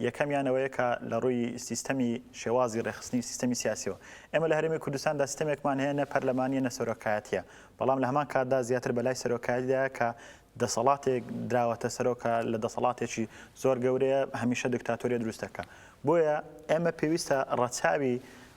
یەکەمیان ئەوەیە کە لە ڕووی سیستەمی شێوازی ڕێخستنی سیستەمی سیاسیەوە ئێمە لە هەرێمی کوردستاندا سیستەمێکمان هەیە نە پەرلەمانیە نە سەرۆکایەتیە بەڵام لە هەمان کاتدا زیاتر بەلای سەرۆکایەتیدا کە دەسەڵاتێک دراوەتە سەرۆکە لە دەسەڵاتێکی زۆر گەورەیە هەمیشە دکتاتۆریە دروستەکە بۆیە ئێمە پێویستە ڕەچاوی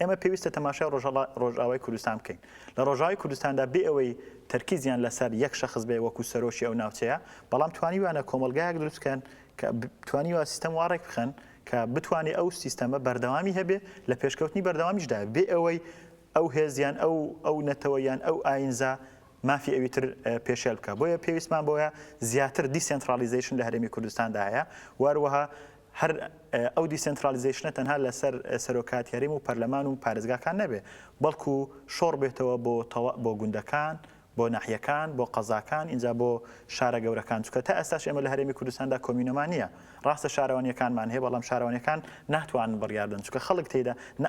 ئێمە پێویستە تەماشای ڕۆژهەڵا ڕۆژئاوای کوردستان بکەین. لە ڕۆژئاوای کوردستاندا بێ ئەوەی تەرکیزیان لە سەر یەک شەخس بێ وەکوو سەرۆکی ئەو ناوچەیە، بەڵام توانیویانە کۆمەڵگایەک دروست بکەن کە ب توانیوە سیستەم وا ڕێک بخەن کە بتوانێ ئەو سیستەمە بەردەوامی هەبێ، لە پێشکەوتنی بەردەوامیشدا بێ ئەوەی ئەو هێز یان ئەو ئەو نەتەوە یان ئەو ئایینزا مافی ئەوی تر پێشێل بکا. بۆیە پێویستمان بەوەیە زیاتر دیسێنتڕاڵیزەیشن لە هەرێمی کوردستاندا هەیە و هەروەها هەر ئەو دیسێنترالیزەیشنە تەنها لەسەر سەرۆکایەتی هەرێم و پەرلەمان و پارێزگاکان نەبێ، بەڵکو شۆڕ بێتەوە بۆ تەوا بۆ گوندەکان، بۆ ناحیەکان، بۆ قەزاکان، ئینجا بۆ شارە گەورەکان، چونکە تا ئێستاش ئێمە لە هەرێمی کوردستاندا کۆمیونەمان نییە، ڕاستە شارەوانییەکانمان هەیە، بەڵام شارەوانییەکان ناتوانن بڕیار بدەن، چونکە خەڵک تێیدا نە.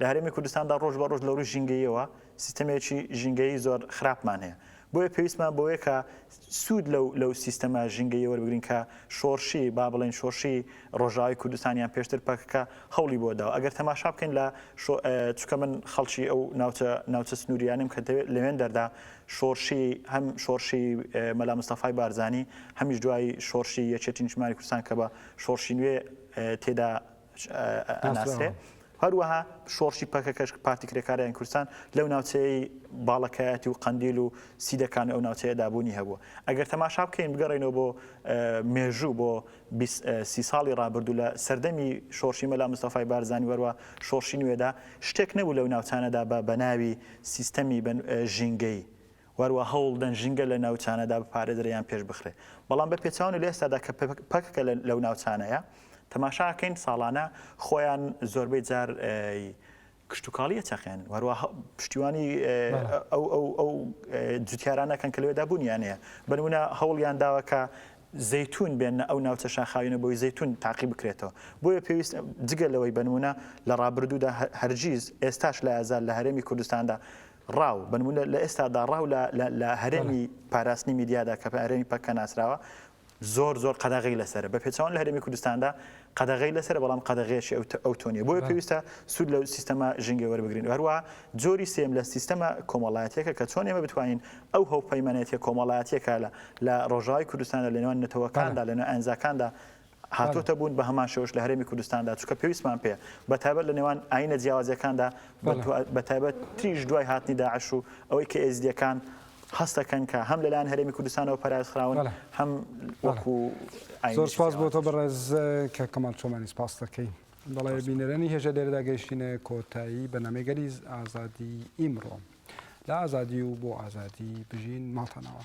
لە هەرێمی کوردستاندا ڕۆژ بە ڕۆژ لە ڕووی ژینگەییەوە سیستەمێکی ژینگەیی زۆر خراپمان هەیە، بۆیە پێویستمان بەوەیە کە سوود لەو لەو سیستەمە ژینگەییە وەربگرین کە شۆڕشی با بڵێین شۆڕشی ڕۆژاوای کوردستان یان پێشتر پەکەکە هەوڵی بۆ داوە. ئەگەر تەماشا بکەین لە شۆ چونکە من خەڵکی ئەو ناوچە ناوچە سنوورییانەم کە دەوێت لەوێندەردا شۆڕشی هەم شۆڕشی مەلا مستەفای بارزانی هەمیش دوای شۆڕشی یەکێتی نیشتمانی کوردستان کە بە شۆڕشی نوێ تێدا ئەناسرێ. هەروەها شۆڕشی پەکەکەش، پارتی کرێکارانی کوردستان، لەو ناوچەیەی باڵەکایەتی و قەندیل و سیدەکان و ئەو ناوچەیەدا بوونی هەبووە. ئەگەر تەماشا بکەین بگەڕێینەوە بۆ مێژوو بۆ سی ساڵی ڕابردوو لە سەردەمی شۆڕشی مەلا مستەفای بارزانی وەروە شۆڕشی نوێدا شتێک نەبوو لەو ناوچانەدا بە بەناوی سیستەمی ژینگەیی وەروا هەوڵدەن ژینگە لە ناوچانەدا بپارێزرێ یان پێش بخرێ بەڵام بە پێچەوانە لە ئێستادا کە پەکەکە لەو ناوچانەیە تەماشا ئەکەین ساڵانە خۆیان زۆربەی جار کشتتوکاڵی ئەچەقێنن وەروا پشتیوانی ئەو ئەو ئەو جوتیارانەکەن کە لەوێدا بوونیان هەیە بەنمونە هەوڵیان داوەکە زەتون بێنە ئەو ناوچە شاخاوینە بۆی زەتون تاقی بکرێتەوە بۆیە پێویست جگە لەوەی بنمونە لە ڕابردوودا هەرگیز ئێستاش لە ئازار لە هەرێمی کوردستاندا ڕاو، بە نموونە لە ئێستادا ڕاو لە لە هەرێمی پاراستنی میدیادا کە بە هەرێمی پەککە ناسراوە، زۆر زۆر قەدەغەی لەسەرە، بە پێچەوانە لە هەرێمی کوردستاندا قەدەغەی لەسەرە بەڵام قەدەغەیەکی ئەو ئەو تۆ نییە، بۆیە پێویستە سوود لە سیستەمە ژینگەی وەربگرین. هەروەها جۆری سێیەم لە سیستەمە کۆمەڵایەتییەکە کە چۆن ئێمە بتوانین ئەو هەوپەیمانێتییە کۆمەڵایەتییە کە لە لە ڕۆژاوای کوردستاندا لە نێوان نەتەوەکاندا، لە نێوان ئەنزاکاندا هاتووەتە بوون، بە هەمان شێوەش لە هەرێمی کوردستاندا، چونکە پێویستمان پێیە، بە تایبەت لە نێوان ئایینە جیاوازەکاندا، بە تایبەت تریش دوای هاتنی داعش و ئەوەی کە ئێزدییەکان هەست دەکەن کە هەم لەلایەن هەرێمی کوردستانەوە پەراوێزخراون، هەم وەکو ئایینێکی جیاواز. زۆر سوپاس بۆ تۆ بەڕێز کاک کەمال چۆمانی، سوپاست دەکەین. بەڵێ بینەرانی هێژا لێرەدا گەیشتینە کۆتایی بەرنامەی گەلی ئازادی ئیمڕۆ. لە ئازادی و بۆ ئازادی بژین ماڵتانەوە.